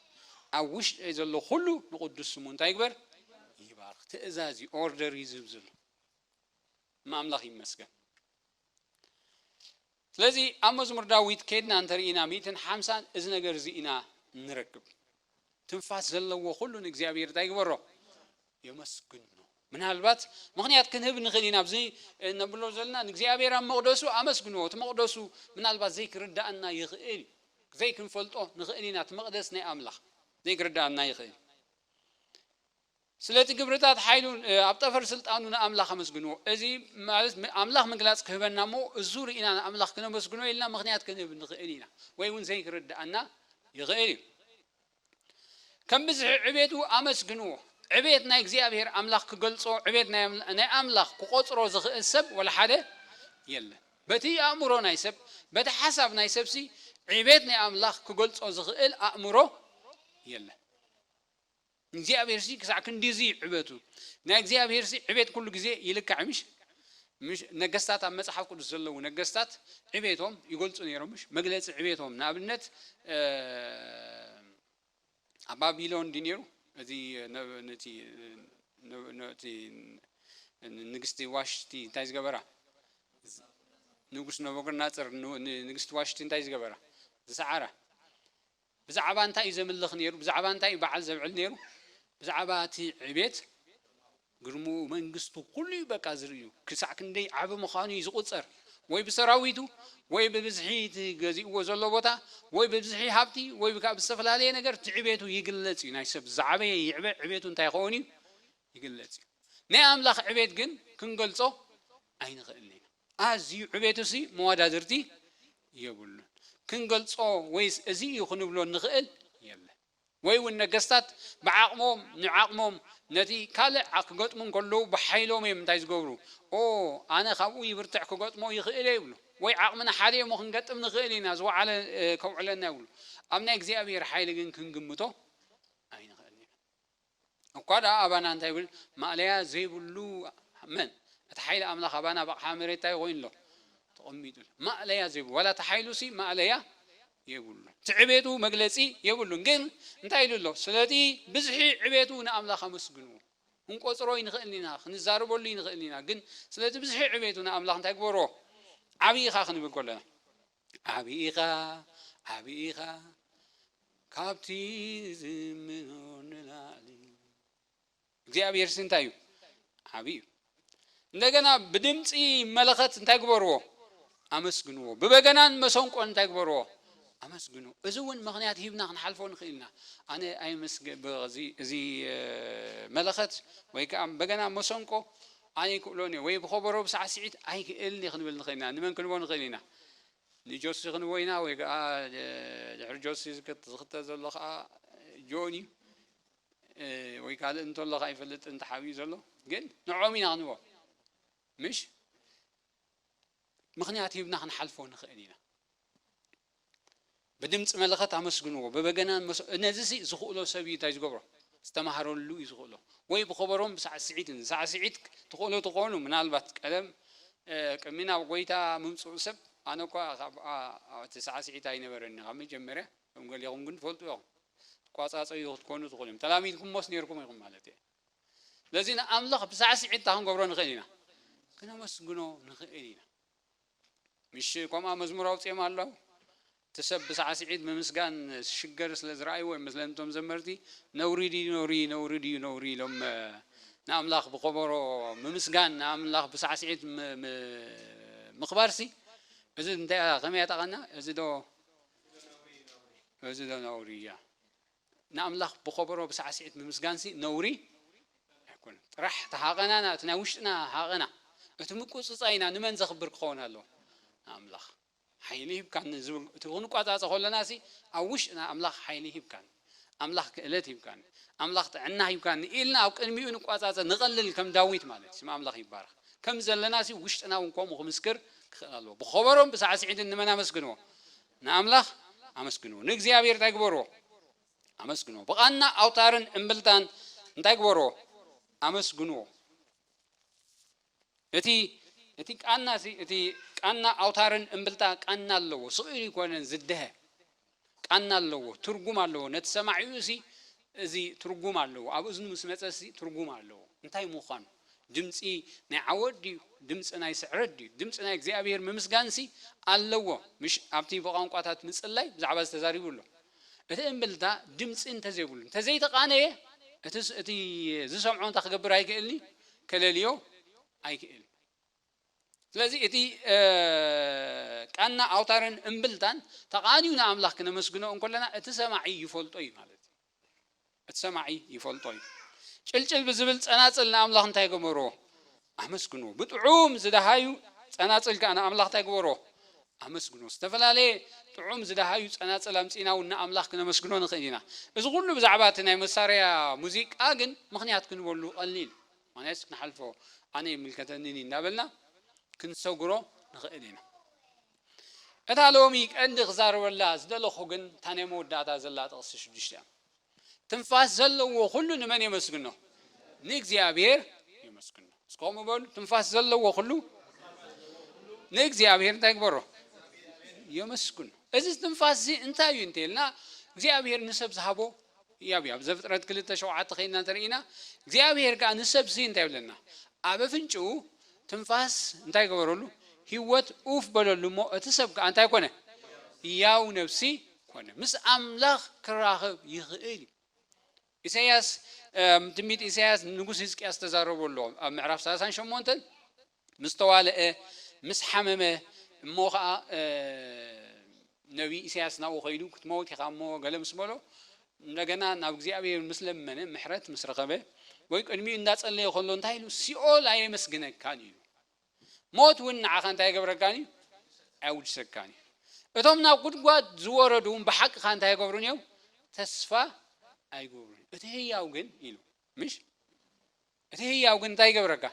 Speaker 1: ኣብ ውሽጠይ ዘሎ ኩሉ ንቅዱስ ስሙ እንታይ ይግበር ይባርኽ ትእዛዝ እዩ ኦርደር እዩ ዝህብ ዘሎ እማ ኣምላኽ ይመስገን ስለዚ ኣብ መዝሙር ዳዊት ኬድና እንተ ርኢና ሚእትን ሓምሳን እዚ ነገር እዚ ኢና እንረክብ። ትንፋስ ዘለዎ ኩሉ ንእግዚኣብሄር እንታይ ይግበሮ? የመስግኖ። ምናልባት ምኽንያት ክንህብ ንኽእል ኢና ኣብዚ እነብሎ ዘለና ንእግዚኣብሄር ኣብ መቕደሱ ኣመስግንዎ። እቲ መቕደሱ ምናልባት ዘይክርድኣና ይኽእል እዩ። ዘይክንፈልጦ ንኽእል ኢና እቲ መቕደስ ናይ ኣምላኽ ዘይክርድኣና ይኽእል እዩ። ስለቲ ግብርታት ሓይሉን ኣብ ጠፈር ስልጣኑ ንኣምላኽ ኣመስግንዎ። እዚ ማለት ኣምላኽ ምግላጽ ክህበና እሞ እዙ ርኢና ንኣምላኽ ክነመስግኖ ኢልና ምኽንያት ክንህብ ንኽእል ኢና ወይ እውን ዘይክርድኣና ይኽእል እዩ። ከም ብዝሒ ዕቤቱ ኣመስግንዎ። ዕቤት ናይ እግዚኣብሔር ኣምላኽ ክገልጾ ዕቤት ናይ ኣምላኽ ክቆጽሮ ዝኽእል ሰብ ወላ ሓደ የለን። በቲ ኣእምሮ ናይ ሰብ በቲ ሓሳብ ናይ ሰብሲ ዕቤት ናይ ኣምላኽ ክገልጾ ዝኽእል ኣእምሮ የለን። ንእግዚኣብሔርሲ ክሳዕ ክንድዚ ዕበቱ። ናይ እግዚኣብሔርሲ ዕቤት ኩሉ ግዜ ይልካዕ እዩ ምሽ? ምሽ ነገስታት ኣብ መጽሓፍ ቅዱስ ዘለዉ ነገስታት ዕቤቶም ይገልጹ ነይሮም ምሽ? መግለጺ ዕቤቶም ንኣብነት ኣብ ባቢሎን ድዩ ነይሩ እዚ ነቲ ነቲ ንግስቲ ዋሽቲ እንታይ ዝገበራ ንጉስ ነበረናጽር ንግስቲ ዋሽቲ እንታይ ዝገበራ ዝሰዓራ ብዛዕባ እንታይ እዩ ዘምልኽ ነይሩ? ብዛዕባ እንታይ እዩ በዓል ዘብዕል ነይሩ? ብዛዕባ እቲ ዕቤት ግርምኡ መንግስቱ ኩሉ እዩ በቃ ዝርእዩ ክሳዕ ክንደይ ዓቢ ምዃኑ እዩ ዝቑጸር ወይ ብሰራዊቱ ወይ ብብዝሒ እቲ ገዚእዎ ዘሎ ቦታ ወይ ብብዝሒ ሃብቲ ወይ ብካ ብዝተፈላለየ ነገር እቲ ዕቤቱ ይግለጽ እዩ ናይ ሰብ ዝዓበየ ይዕበ ዕቤቱ እንታይ ክኸውን እዩ ይግለጽ እዩ ናይ ኣምላኽ ዕቤት ግን ክንገልጾ ኣይንኽእልን ኢና ኣዝዩ ዕቤቱሲ መወዳድርቲ የብሉን። ክንገልጾ ወይስ እዚ እዩ ክንብሎ እንኽእል የለን። ወይ እውን ነገስታት ብዓቕሞም ንዓቕሞም ነቲ ካልእ ዓ ክገጥሙ እንከለዉ ብሓይሎም እዮም እንታይ ዝገብሩ ኦ ኣነ ካብኡ ይብርትዕ ክገጥሞ ይኽእል'የ ይብሉ። ወይ ዓቕምና ሓደ እዩ'ሞ ክንገጥም ንኽእል ኢና ዝወዓለ ከውዕለና ይብሉ። ኣብ ናይ እግዚኣብሄር ሓይሊ ግን ክንግምቶ ኣይንኽእልን ኢና። እኳ ደኣ ኣባና እንታይ ብል ማእለያ ዘይብሉ መን እቲ ሓይሊ ኣምላኽ ኣባና ብ ኣቕሓ መሬት እንታይ ኮይኑ ኣሎ ተቐሚጡ ኣሎ ማእለያ ዘይብሉ ዋላ እቲ ሓይሉሲ ማእለያ የብሉን እቲ ዕቤቱ መግለጺ የብሉን ግን እንታይ ኢሉ ኣሎ ስለቲ ብዝሒ ዕቤቱ ንኣምላኽ ኣመስግንዎ ክንቆጽሮ ይንኽእል ኢና ክንዛረበሉ ይንኽእል ኢና ግን ስለቲ ብዝሒ ዕቤቱ ንኣምላኽ እንታይ ግበርዎ ዓብዪ ኢኻ ክንብል ከሎና ዓቢ ኢኻ ዓቢ ኢኻ ካብቲ ዝምኖ ንላዕሊ እግዚኣብሔር ሲ እንታይ እዩ ዓቢ እዩ እንደገና ብድምፂ መለኸት እንታይ ግበርዎ ኣመስግንዎ ብበገናን መሰንቆን እንታይ ግበርዎ ኣመስግኑ እዚ እውን ምክንያት ሂብና ክንሓልፎ ንኽእል ኢና ኣነ ኣይምስዚ እዚ መለኸት ወይ ከዓ በገና መሰንቆ ኣነ ይክእሎን'የ ወይ ብኸበሮ ብሳዕስዒት ኣይክእልን'የ ክንብል ንኽእል ኢና። ንመን ክንቦ ንኽእል ኢና? ንጆሲ ክንቦ ኢና ወይ ከኣ ድሕሪ ጆሲ ዝኽተል ዘሎ ከኣ ጆን'ዩ ወይ ካልእ እንተሎ ኣይፈልጥን ተሓቢኡ ዘሎ ግን ንዕኦም ኢና ክንቦ ምሽ ምኽንያት ሂብና ክንሓልፎ ንኽእል ኢና። ብድምጺ መለኸት ኣመስግንዎ፣ ብበገናን መሰንቆን፣ ነዚሲ ዝኽእሎ ሰብ እዩ ታይ ዝገብሮ ዝተማህረሉ እዩ ዝኽእሎ፣ ወይ ብኸበሮን ብሳዕስዒትን፣ ሳዕስዒት ትኽእሉ ትኾኑ ምናልባት ቀደም ቅድሚ ናብ ጎይታ ምምጽኡ ሰብ ኣነ እኳ ካብ ኣቲ ሳዕስዒት ኣይነበረኒ ካብ መጀመርያ እቶም ገሊኹም ግን ትፈልጡ ኢኹም ትቋጻጸዩ ክትኮኑ ትኽእሉ እዮም ተላሚድኩሞስ ኔርኩም ኢኹም ማለት እየ ስለዚ ንኣምላኽ ብሳዕስዒት እንታይ ክንገብሮ ንኽእል ኢና ክነመስግኖ ንኽእል ኢና ምሽ ኮምኣ መዝሙር ኣውጺኦም ኣለው እቲ ሰብ ብሳዕሲዒት ብምስጋን ስሽገር ስለ ዝረኣይዎ እዮም መስለኒ እቶም ዘመርቲ ነውሪ ድዩ ነውሪ ነውሪ ድዩ ነውሪ ኢሎም ንኣምላኽ ብኮቦሮ ምምስጋን ንኣምላኽ ብሳዕሲዒት ምኽባርሲ እዚ እንታይ ከመይ ያጠቐና እዚ ዶ እዚ ዶ ነውሪ እያ ንኣምላኽ ብኸበሮ ብሳዕስዒት ምምስጋንሲ ነውሪ ኣይኮነን። ጥራሕ እቲ ሃቐናና እቲ ናይ ውሽጥና ሃቐና እቲ ምቁጽጻይና ንመን ዘኽብር ክኸውን ኣለዎ? ንኣምላኽ። ሓይሊ ሂብካኒ ዝብል እቲ ክንቋጻጸ ከሎናሲ ኣብ ውሽጥና ኣምላኽ ሓይሊ ሂብካኒ፣ ኣምላኽ ክእለት ሂብካኒ፣ ኣምላኽ ጥዕና ሂብካኒ ኢልና ኣብ ቅድሚኡ ንቋጻጸ ንቐልል ከም ዳዊት ማለት ስም ኣምላኽ ይባረኽ ከም ዘለናሲ ውሽጥና እውን ከምኡ ክምስክር ክኽእል ኣለዎ። ብኸበሮን ብሳዕስዒትን ንመን ኣመስግንዎ? ንኣምላኽ ኣመስግንዎ። ንእግዚኣብሔር እንታይ ግበርዎ? ኣመስግንዎ። ብቓና ኣውታርን እምብልታን እንታይ ግበርዎ? ኣመስግንዎ። እቲ እቲ ቃና እዚ እቲ ቃና ኣውታርን እምብልታ ቃና ኣለዎ። ስቕ ኢሉ ኣይኮነን ዝደሀ ቃና ኣለዎ፣ ትርጉም ኣለዎ። ነቲ ሰማዒኡ እዚ እዚ ትርጉም ኣለዎ ኣብ እዝኑ ምስ መጸስ እዚ ትርጉም ኣለዎ እንታይ ሙኻኑ ድምጺ ናይ ዓወት ድዩ ድምጺ ናይ ስዕረት ድዩ ድምጺ ናይ እግዚኣብሄር ምምስጋንሲ ኣለዎ ምሽ ኣብቲ ብቛንቋታት ምጽላይ ብዛዕባ እዚ ተዛሪቡ ኣሎ እቲ እምብልታ ድምጺ እንተዘይብሉ እንተዘይተቓነየ እቲ እቲ ዝሰምዖ እንታይ ክገብር ኣይክእልንዩ ከለልዮ ኣይክእል ስለዚ እቲ ቃና ኣውታርን እምብልታን ተቓንዩ ንኣምላኽ ክነመስግኖ እንኮለና እቲ ሰማዒ ይፈልጦ እዩ ማለት እዩ። እቲ ሰማዒ ይፈልጦ እዩ። ጭልጭል ብዝብል ጸናጽል ንኣምላኽ እንታይ ገበሮ? ኣመስግኖ። ብጥዑም ዝደሃዩ ጸናጽል ከኣ ንኣምላኽ እንታይ ግበሮ? ኣመስግኖ። ዝተፈላለየ ጥዑም ዝደሃዩ ጸናጽል ኣምጺእና እውን ንኣምላኽ ክነመስግኖ ንኽእል ኢና። እዚ ኹሉ ብዛዕባ እቲ ናይ መሳርያ ሙዚቃ ግን ምኽንያት ክንበሉ ቀሊል እዩ። ኣነስ ክንሓልፎ ኣነ ኣይምልከተንን እዩ እንዳበልና ክንሰግሮ ንኽእል ኢና። እታ ሎሚ ቀንዲ ክዛረበላ ዝደለኹ ግን እታ ናይ መወዳእታ ዘላ ጥቕሲ ሽዱሽተ እያ። ትንፋስ ዘለዎ ኩሉ ንመን የመስግኖ? ንእግዚኣብሔር የመስግኖ። እስከ ከምኡ በሉ፣ ትንፋስ ዘለዎ ኩሉ ንእግዚኣብሔር እንታይ ግበሮ? የመስግኖ። እዚ ትንፋስ እዚ እንታይ እዩ እንተይልና እግዚኣብሔር ንሰብ ዝሃቦ ያብ ያብ ዘፍጥረት ክልተ ሸውዓተ ከይንና ተርእይና እግዚኣብሄር ከኣ ንሰብሲ እንታይ ይብለና ኣብ ኣፍንጭኡ ትንፋስ እንታይ ገበረሉ ሂወት ኡፍ በለሉ እሞ እቲ ሰብ ከኣ እንታይ ኮነ ያው ነብሲ ኮነ ምስ ኣምላኽ ክራኽብ ይኽእል እዩ ኢሰያስ ትንቢት ኢሰያስ ንጉስ ህዝቅያስ ተዛረቦ ኣሎ ኣብ ምዕራፍ ሰላሳን ሸሞንተን ምስ ተዋልዐ፣ ምስ ሓመመ፣ እሞ ኸኣ ነብዪ ኢሳያስ ናብኡ ከይዱ ክትመውት ኢኻ እሞ ገለ ምስ በሎ፣ እንደገና ናብ እግዚኣብሄር ምስ ለመነ፣ ምሕረት ምስ ረኸበ፣ ወይ ቅድሚኡ እንዳጸለየ ከሎ እንታይ ኢሉ፣ ሲኦል ኣየመስግነካን ኢዩ፣ ሞት እውን ንዓኻ እንታይ ኣይገብረካን ኢዩ፣ ኣየውድሰካን ኢዩ፣ እቶም ናብ ጉድጓድ ዝወረዱ እውን ብሓቅኻ እንታይ ኣይገብሩን ኢዮም፣ ተስፋ ኣይገብሩን ኢዮም፣ እቲ ህያው ግን ኢሉ ምሽ። እቲ ህያው ግን እንታይ ይገብረካ?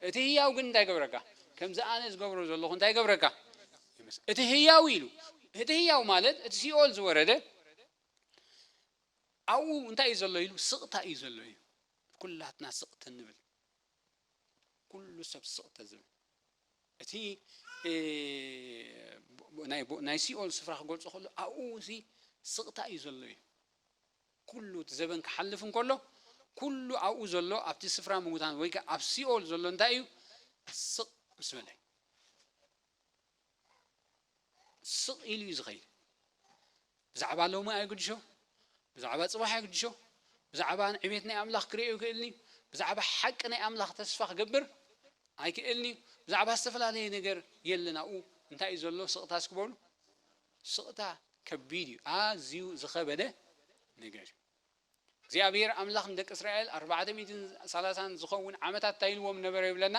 Speaker 1: እቲ ህያው ግን እንታይ ይገብረካ? ከምዚ ኣነ ዝገብሮ ዘለኹ እንታይ ይገብረካ? እቲ ህያው ኢሉ እቲ ህያው ማለት እቲ ሲኦል ዝወረደ ኣብኡ እንታይ እዩ ዘሎ ኢሉ ስቕታ እዩ ዘሎ እዩ ኩላትና ስቕተ ንብል ኩሉ ሰብ ስቕተ ዝብል እቲ ናይ ሲኦል ስፍራ ክገልፆ ከሎ ኣብኡ እዚ ስቕታ እዩ ዘሎ እዩ ኩሉ እቲ ዘበን ክሓልፍ እንከሎ፣ ኩሉ ኣብኡ ዘሎ ኣብቲ ስፍራ ምዉታን ወይ ከኣ ኣብ ሲኦል ዘሎ እንታይ እዩ? ስቕ ምስ በለ እዩ። ስቕ ኢሉ እዩ ዝኸይድ። ብዛዕባ ሎሚ ኣይግድሾ፣ ብዛዕባ ጽባሕ ኣይግድሾ፣ ብዛዕባ ዕቤት ናይ ኣምላኽ ክርእዮ ኣይክእልን እዩ፣ ብዛዕባ ሓቂ ናይ ኣምላኽ ተስፋ ክገብር ኣይክእልን እዩ፣ ብዛዕባ ዝተፈላለየ ነገር የለን ኣብኡ። እንታይ እዩ ዘሎ? ስቕታ እስኪ በሉ። ስቕታ ከቢድ እዩ፣ ኣዝዩ ዝኸበደ ነገር እዩ። እግዚኣብሄር ኣምላኽ ንደቂ እስራኤል ኣርባዕተ ሚእትን ሰላሳን ዝኸውን ዓመታት እንታይ ኢልዎም ነበረ ይብለና?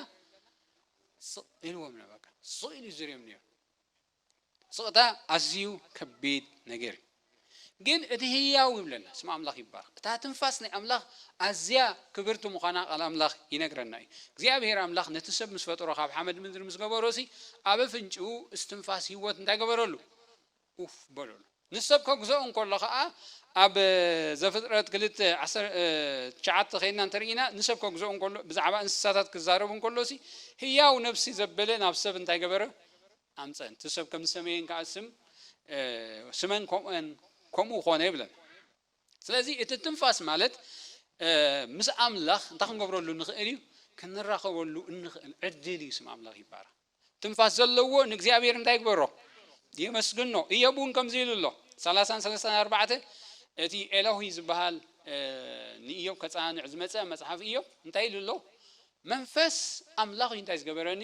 Speaker 1: ስቕ ኢልዎም ነበረ። ስቕ ኢሉ ዝርዮም ነይሩ። ስቕታ ኣዝዩ ከቢድ ነገር እዩ። ግን እቲ ህያው ይብለና ስም ኣምላኽ ይባረኽ እታ ትንፋስ ናይ ኣምላኽ ኣዝያ ክብርቲ ምዃና ቃል ኣምላኽ ይነግረና እዩ እግዚኣብሄር ኣምላኽ ነቲ ሰብ ምስ ፈጠሮ ካብ ሓመድ ምድሪ ምስ ገበሮሲ ኣብ ኣፍንጭኡ እስትንፋስ ህይወት እንታይ ገበረሉ ኡፍ በለሉ ንሰብ ከግዝኦ እንከሎ ከኣ ኣብ ዘፍጥረት ክልተ ትሽዓተ ከይድና እንተርኢና ንሰብ ከግዝኦ እንከሎ ብዛዕባ እንስሳታት ክዛረብ እንከሎሲ ህያው ነብሲ ዘበለ ናብ ሰብ እንታይ ገበረ ኣምጸን። እቲ ሰብ ከም ዝሰመየን ከኣ ስም ስመን ከምኡኤን ከምኡ ኮነ ይብለን። ስለዚ እቲ ትንፋስ ማለት ምስ ኣምላኽ እንታይ ክንገብረሉ ንኽእል እዩ? ክንራኸበሉ እንኽእል ዕድል እዩ። ስም ኣምላኽ ይባረኽ። ትንፋስ ዘለዎ ንእግዚኣብሔር እንታይ ይግበሮ? የመስግኖ። እዮብ እውን ከምዚ ኢሉ ኣሎ። ሰላሳን ሰለስታን ኣርባዕተ እቲ ኤሎሂ ዝበሃል ንእዮብ ከጸናንዕ ዝመጸ መጽሓፍ እዮብ እንታይ ኢሉ ኣሎ? መንፈስ ኣምላኽ እዩ እንታይ ዝገበረኒ?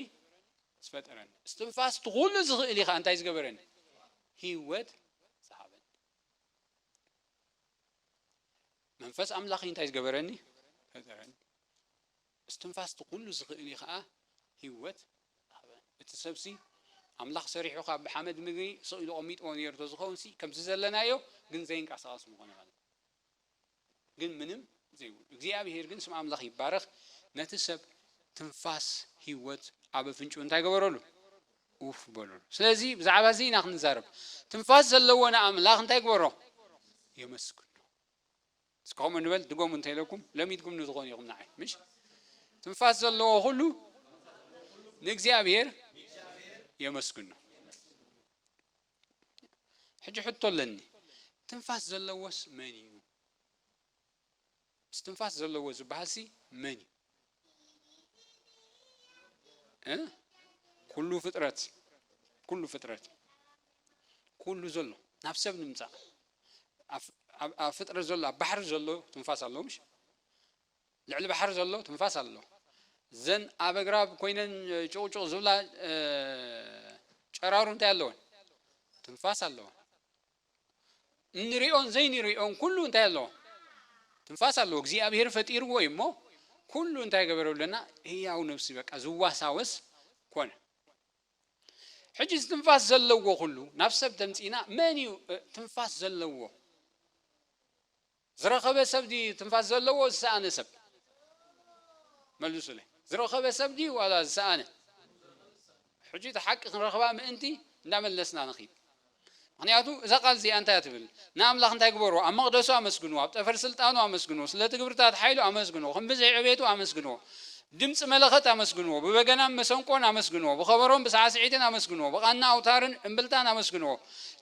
Speaker 1: ዝፈጠረኒ እስትንፋስ እቲ ኩሉ ዝኽእል ኢኻ እንታይ ዝገበረኒ ሂወት ዝሃበኒ መንፈስ ኣምላኽ እንታይ ዝገበረኒ ፈጠረኒ እስትንፋስ እቲ ኩሉ ዝኽእል እዩ ከዓ ሂወት ሃበኒ እቲ ሰብሲ ኣምላኽ ሰሪሑ ካብ ብሓመድ ምግቢ ስኢሉ ቐሚጥዎ ነይሩ ተዝኸውን ሲ ከምዚ ዘለናዮ ግን ዘይንቀሳቐስ ምኾነ ማለት ግን ምንም ዘይብሉ እግዚኣብሄር ግን ስም ኣምላኽ ይባረኽ ነቲ ሰብ ትንፋስ ህይወት ኣብ ኣፍንጭኡ እንታይ ገበረሉ ኡፍ በለሉ ስለዚ ብዛዕባ እዚ ኢና ክንዛረብ ትንፋስ ዘለዎ ንኣምላኽ እንታይ ግበሮ የመስግኖ እስከ ከምኡ ንበል ድገሙ እንተኢለኩም ለሚድኩም ንዝኾኑ ኢኹም ንዓይ ምሽ ትንፋስ ዘለዎ ኩሉ ንእግዚኣብሄር የመስግኖ ሕጂ ሕቶ ኣለኒ ትንፋስ ዘለዎስ መን እዩ እስትንፋስ ዘለዎ ዝበሃልሲ መን እዩ እ ኩሉ ፍጥረት ኩሉ ፍጥረት ኩሉ ዘሎ ናብ ሰብ ንምጻእ ኣብ ፍጥረት ዘሎ ኣብ ባሕሪ ዘሎ ትንፋስ ኣለዎ ምሽ ልዕሊ ባሕሪ ዘሎ ትንፋስ ኣሎ። እዘን ኣብ ኣግራብ ኮይነን ጩቕጩቕ ዝብላ ጨራሩ እንታይ ኣለወን? ትንፋስ ኣለወን። እንሪኦን ዘይንሪኦን ኩሉ እንታይ ኣለዎ? ትንፋስ ኣለዎ። እግዚኣብሄር ፈጢርዎ እዩ እሞ ኩሉ እንታይ ገበረሉና? ህያው ነብሲ በቃ ዝዋሳወስ ኮነ። ሕጂ እዚ ትንፋስ ዘለዎ ኩሉ ናብ ሰብ ተምጺእና መን እዩ ትንፋስ ዘለዎ? ዝረኸበ ሰብ ድዩ ትንፋስ ዘለዎ ዝሰኣነ ሰብ መልሱለይ ዝረኸበ ሰብ ድዩ ዋላ ዝሰኣነ ሕጂ እታ ሓቂ ክንረኽባ ምእንቲ እንዳመለስና ንኺድ ምኽንያቱ እዛ ቃል እዚኣ እንታይ እያ ትብል ንኣምላኽ እንታይ ግበርዎ ኣብ መቕደሱ ኣመስግንዎ ኣብ ጠፈር ስልጣኑ ኣመስግንዎ ስለቲ ግብርታት ሓይሉ ኣመስግንዎ ከም ብዝሒ ዕቤቱ ኣመስግንዎ ድምጺ መለኸት ኣመስግንዎ፣ ብበገናን መሰንቆን ኣመስግንዎ፣ ብኸበሮን ብሳዕስዒትን ኣመስግንዎ፣ ብቓና ኣውታርን እምብልታን ኣመስግንዎ፣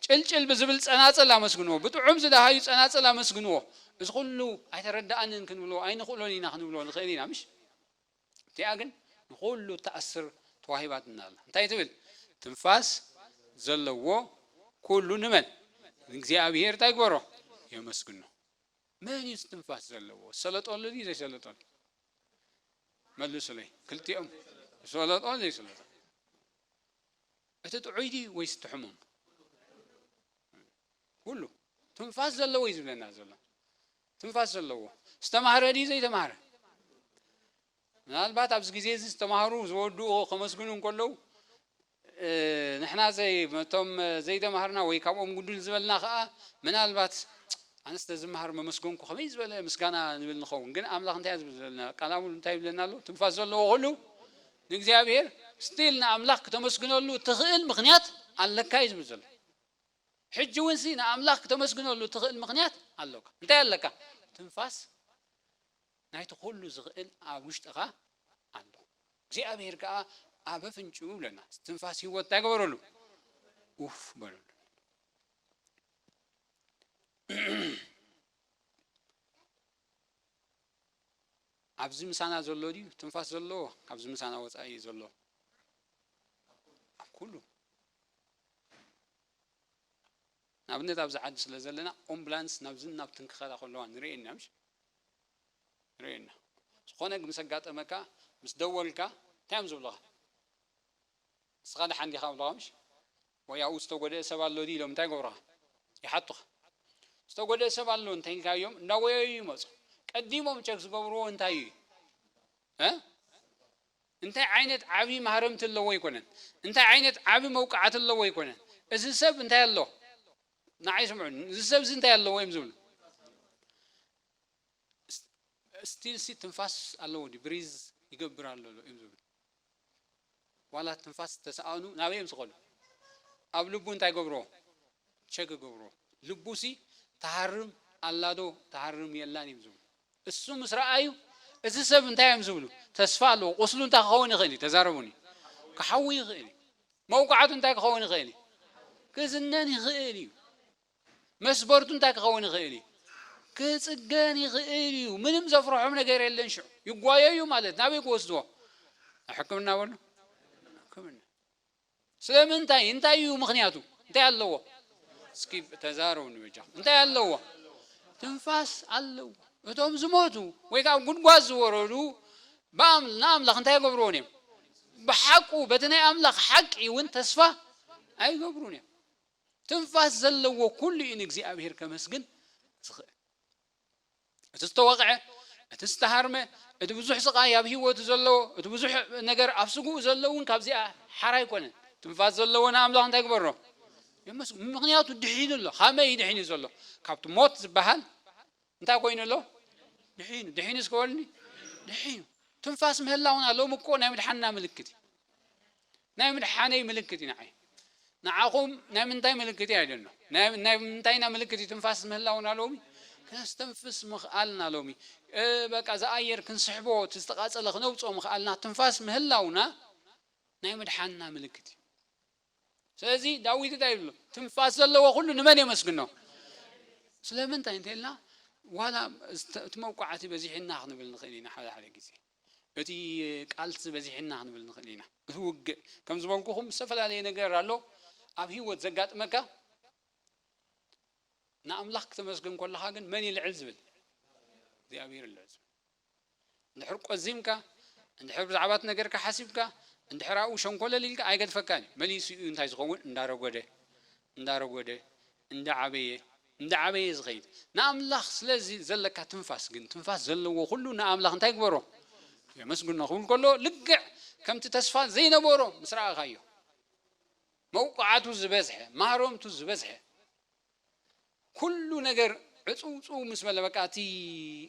Speaker 1: ጭልጭል ብዝብል ጸናጽል ኣመስግንዎ፣ ብጥዑም ዝደሃዩ ጸናጽል ኣመስግንዎ። እዚ ኹሉ ኣይተረደኣንን ክንብሎ ኣይንኽእሎን ኢና ክንብሎ ንኽእል ኢና ምሽ? እቲኣ ግን ንኹሉ እትኣስር ተዋሂባትና ኣላ። እንታይ ትብል? ትንፋስ ዘለዎ ኩሉ ንመን? ንእግዚኣብሄር እንታይ ይግበሮ? የመስግኖ። መን እዩ እዚ ትንፋስ ዘለዎ? ዝሰለጠሉ ድዩ ዘይሰለጠሉ? መልሱለይ ክልቲኦም ዝፈለጦን ዘይስለጦን እቲ ጥዑይ ድዩ ወይስ እቲ ሕሙም ኩሉ ትንፋስ ዘለዎ እዩ ዝብለና ዘሎ ትንፋስ ዘለዎ ዝተማህረ ድዩ ዘይተማህረ ምናልባት ኣብዚ ግዜ እዚ ዝተማህሩ ዝወድኡ ከመስግኑ እንከለዉ ንሕና ዘይ እቶም ዘይተማሃርና ወይ ካብኦም ጉድል ዝበልና ከኣ ምናልባት ኣነ ስለ ዝመሃር መመስገንኩ ከመይ ዝበለ ምስጋና ንብል ንኸውን ግን ኣምላኽ እንታይ ዝብል ዘለና ቃል ኣምሉ እንታይ ይብለና ኣሎ ትንፋስ ዘለዎ ኩሉ ንእግዚኣብሔር ስቲል ንኣምላኽ ክተመስግነሉ እትኽእል ምክንያት ኣለካ እዩ ዝብል ዘሎ ሕጂ እውን ሲ ንኣምላኽ ክተመስግነሉ እትኽእል ምክንያት ኣሎካ እንታይ ኣለካ ትንፋስ ናይቲ ኩሉ ዝኽእል ኣብ ውሽጥኻ ኣሎ እግዚኣብሄር ከኣ ኣብ ኣፍንጭኡ እብለና እስትንፋስ ህይወት እንታይ ገበረሉ ኡፍ በለሉ ኣብዚ ምሳና ዘሎ ድዩ ትንፋስ ዘለዎ ካብዚ ምሳና ወፃኢ እዩ ዘሎ ኣብ ኩሉ ንኣብነት ኣብዚ ዓዲ ስለ ዘለና ኦምብላንስ ናብዝን ናብትን ክኸዳ ከለዋ ንሪኤን ኢና ምሽ ንሪኤን ኢና ዝኾነ ምስ ኣጋጠመካ ምስ ደወልካ እንታይ እዮም ዝብሉኻ ንስኻ ደሓን ዲኻ ይብሉኻ ምሽ ወይ ኣብኡ ዝተጎድኤ ሰብ ኣሎ ድዩ ኢሎም እንታይ ይገብሩኻ ይሓቱኻ ዝተጎድኤ ሰብ ኣሎ እንታይ ኢልካዮም እንዳጎየዩ ይመፁ ቀዲሞም ቸክ ዝገብርዎ እንታይ እዩ እ እንታይ ዓይነት ዓቢ ማህረምቲ ኣለዎ ኣይኮነን እንታይ ዓይነት ዓቢ መውቃዕቲ ኣለዎ ኣይኮነን እዚ ሰብ እንታይ ኣሎ ንዓይ ስምዑኒ እዚ ሰብ እዚ እንታይ ኣለዎ እዮም ዝብሉ ስቲል ሲ ትንፋስ ኣለዎ ዲ ብሪዝ ይገብር ኣሎ ዶ እዮም ዝብሉ ዋላ ትንፋስ ተሰኣኑ ናበይ እዮም ዝኸዱ ኣብ ልቡ እንታይ ገብርዎ ቸ ክገብሮ ልቡሲ ትሃርም ኣላዶ ትሃርም የላን እዮም ዝብሉ እሱ ምስ ረኣዩ እዚ ሰብ እንታይ እዮም ዝብሉ ተስፋ ኣለዎ ቁስሉ እንታይ ክኸውን ይኽእል እዩ ተዛረቡኒ ክሓዊ ይኽእል እዩ መውቃዕቱ እንታይ ክኸውን ይኽእል እዩ ክዝነን ይኽእል እዩ መስበርቱ እንታይ ክኸውን ይኽእል እዩ ክጽገን ይኽእል እዩ ምንም ዘፍርሖም ነገር የለን ሽዑ ይጓየዩ ማለት ናበይ ክወስድዎ ሕክምና በሉ ሕክምና ስለምንታይ እንታይ እዩ ምኽንያቱ እንታይ ኣለዎ እስኪ ተዛረቡኒ በጃኹም እንታይ ኣለዎ ትንፋስ ኣለዎ እቶም ዝሞቱ ወይ ከዓ ጉድጓድ ዝወረዱ ንኣምላኽ እንታይ ይገብርዎን እዮም ብሓቁ በቲ ናይ ኣምላኽ ሓቂ እውን ተስፋ ኣይገብሩን እዮም ትንፋስ ዘለዎ ኩሉ እዩ ንእግዚኣብሔር ከመስግን ዝኽእል እቲ ዝተወቕዐ፣ እቲ ዝተሃርመ፣ እቲ ብዙሕ ስቓይ ኣብ ህይወቱ ዘለዎ፣ እቲ ብዙሕ ነገር ኣብ ስግኡ ዘሎ እውን ካብዚኣ ሓራ ኣይኮነን። ትንፋስ ዘለዎ ንኣምላኽ እንታይ ይግበሮ? የመስግኖ። ምኽንያቱ ድሒኑ ኣሎ። ኻመይ እዩ ድሒኑ ዘሎ? ካብቲ ሞት ዝበሃል እንታይ ኮይኑ ኣሎ? ድሒኑ። ድሒኑ እስከ በሉኒ። ድሒኑ። ትንፋስ ምህላውና ሎሚ እኮ ናይ ምድሓንና ምልክት እዩ። ናይ ምድሓነይ ምልክት እዩ ንዓይ። ንዓኹም ናይ ምንታይ ምልክት እዩ? I don't know። ናይ ናይ ምንታይ ኢና ምልክት እዩ? ትንፋስ ምህላውና ሎሚ፣ ከነስተንፍስ ምኽኣልና ሎሚ፣ በቃ እዚ ኣየር ክንስሕቦ እቲ ዝተቓጸለ ክነውጽኦ ምኽኣልና፣ ትንፋስ ምህላውና ናይ ምድሓንና ምልክት እዩ። ስለዚ ዳዊት እንታይ ይብሉ? ትንፋስ ዘለዎ ኩሉ ንመን የመስግኖ? ስለምንታይ እንተኢልና ዋላ እቲ መውቃዕቲ በዚሑና ክንብል ንኽእል ኢና ሓደ ሓደ ግዜ። እቲ ቃልሲ በዚሕና ክንብል ንክእል ኢና እቲ ውግእ ከም ዝበልኩኩም ዝተፈላለየ ነገር ኣሎ ኣብ ሂወት ዘጋጥመካ ንኣምላኽ ክተመስግን ኮለኻ ግን መን እዩ ልዕል ዝብል እግዚኣብሔር ልዕል ዝብል እንድሕር ቆዚምካ እንድሕር ብዛዕባ እቲ ነገርካ ሓሲብካ እንድሕር ኣብኡ ሸንኮለል ኢልካ ኣይገድፈካን እዩ መሊሱ እዩ እንታይ ዝኸውን እንዳረጎደ እንዳረጎደ እንዳዓበየ እንዳዓበየ እዩ ዝኸይድ። ንኣምላኽ ስለ ዘለካ ትንፋስ ግን፣ ትንፋስ ዘለዎ ኩሉ ንኣምላኽ እንታይ ይግበሮ? የመስግኖ ክብል ከሎ ልክዕ ከምቲ ተስፋ ዘይነበሮ ምስ ረኣኻዮ፣ መውቃዕቱ ዝበዝሐ፣ ማህረምቱ ዝበዝሐ፣ ኩሉ ነገር ዕጽውጽው ምስ በለ በቃ እቲ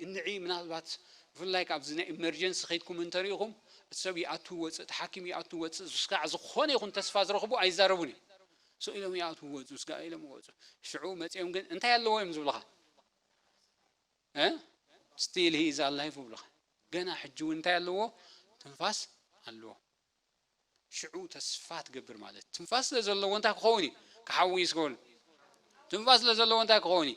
Speaker 1: እንዒ ምናልባት ብፍላይ ካብዚ ናይ ኢመርጀንሲ ከይድኩም እንተሪኢኹም እቲ ሰብ ይኣቱ ይወጽእ፣ እቲ ሓኪም ይኣቱ ይወጽእ፣ ክሳዕ ዝኾነ ይኹን ተስፋ ዝረኽቡ ኣይዛረቡን እዮም። ሱቕ ኢሎም ይኣትዉ ወጹ፣ ስጋእ ኢሎም ይወጹ። ሽዑ መጺኦም ግን እንታይ ኣለዎ እዮም ዝብሉኻ? ስቲል ሂ ኢዝ ኣላይቭ ይብሉኻ። ገና ሕጂ እውን እንታይ ኣለዎ? ትንፋስ ኣለዎ። ሽዑ ተስፋ ትገብር ማለት እዩ። ትንፋስ ስለ ዘለዎ እንታይ ክኸውን እዩ? ክሓዊ እዩ ዝገብሩ። ትንፋስ ስለ ዘለዎ እንታይ ክኸውን እዩ?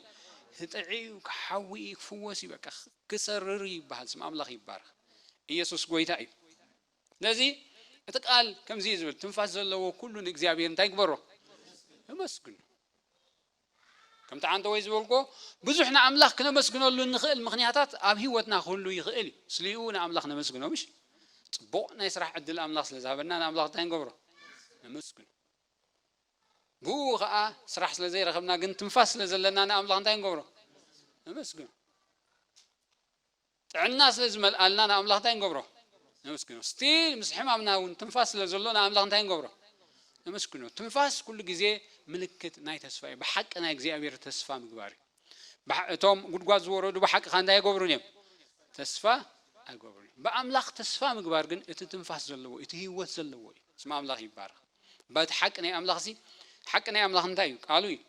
Speaker 1: ህጥዒ እዩ፣ ክሓዊ እዩ፣ ክፍወስ እዩ፣ በቃ ክሰርር እዩ ይበሃል። ስም ኣምላኽ ይባረኽ። ኢየሱስ ጎይታ እዩ። ስለዚ እቲ ቃል ከምዚ እዩ ዝብል ትንፋስ ዘለዎ ኩሉ ንእግዚኣብሔር እንታይ ግበሮ እመስግኖ ከምቲ ዓንተ ወይ ዝበልኮ ብዙሕ ንኣምላኽ ክነመስግነሉ እንኽእል ምክንያታት ኣብ ህይወትና ክህሉ ይኽእል እዩ ስሊኡ ንኣምላኽ ነመስግኖ ምሽ ፅቡቕ ናይ ስራሕ ዕድል ኣምላኽ ስለ ዝሃበና ንኣምላኽ እንታይ ንገብሮ ነመስግኖ ብኡ ከዓ ስራሕ ስለ ዘይረኸብና ግን ትንፋስ ስለ ዘለና ንኣምላኽ እንታይ ንገብሮ ነመስግኖ ጥዕና ስለ ዝመልኣልና ንኣምላኽ እንታይ ንገብሮ? ነመስግኖ። Still ምስ ሕማምና እውን ትንፋስ ስለ ዘሎ ንኣምላኽ እንታይ ንገብሮ? ነመስግኖ። ትንፋስ ኩሉ ግዜ ምልክት ናይ ተስፋ እዩ። ብሓቂ ናይ እግዚኣብሔር ተስፋ ምግባር እዩ። ብሓ እቶም ጉድጓድ ዝወረዱ ብሓቂ ከኣ እንታይ ኣይገብሩን እዮም? ተስፋ ኣይገብሩን እዮም። ብኣምላኽ ተስፋ ምግባር ግን እቲ ትንፋስ ዘለዎ እዩ፣ እቲ ህይወት ዘለዎ እዩ። ስም ኣምላኽ ይባረኽ። እባ እቲ ሓቂ ናይ ኣምላኽሲ ሓቂ ናይ ኣምላኽ እንታይ እዩ? ቃሉ እዩ።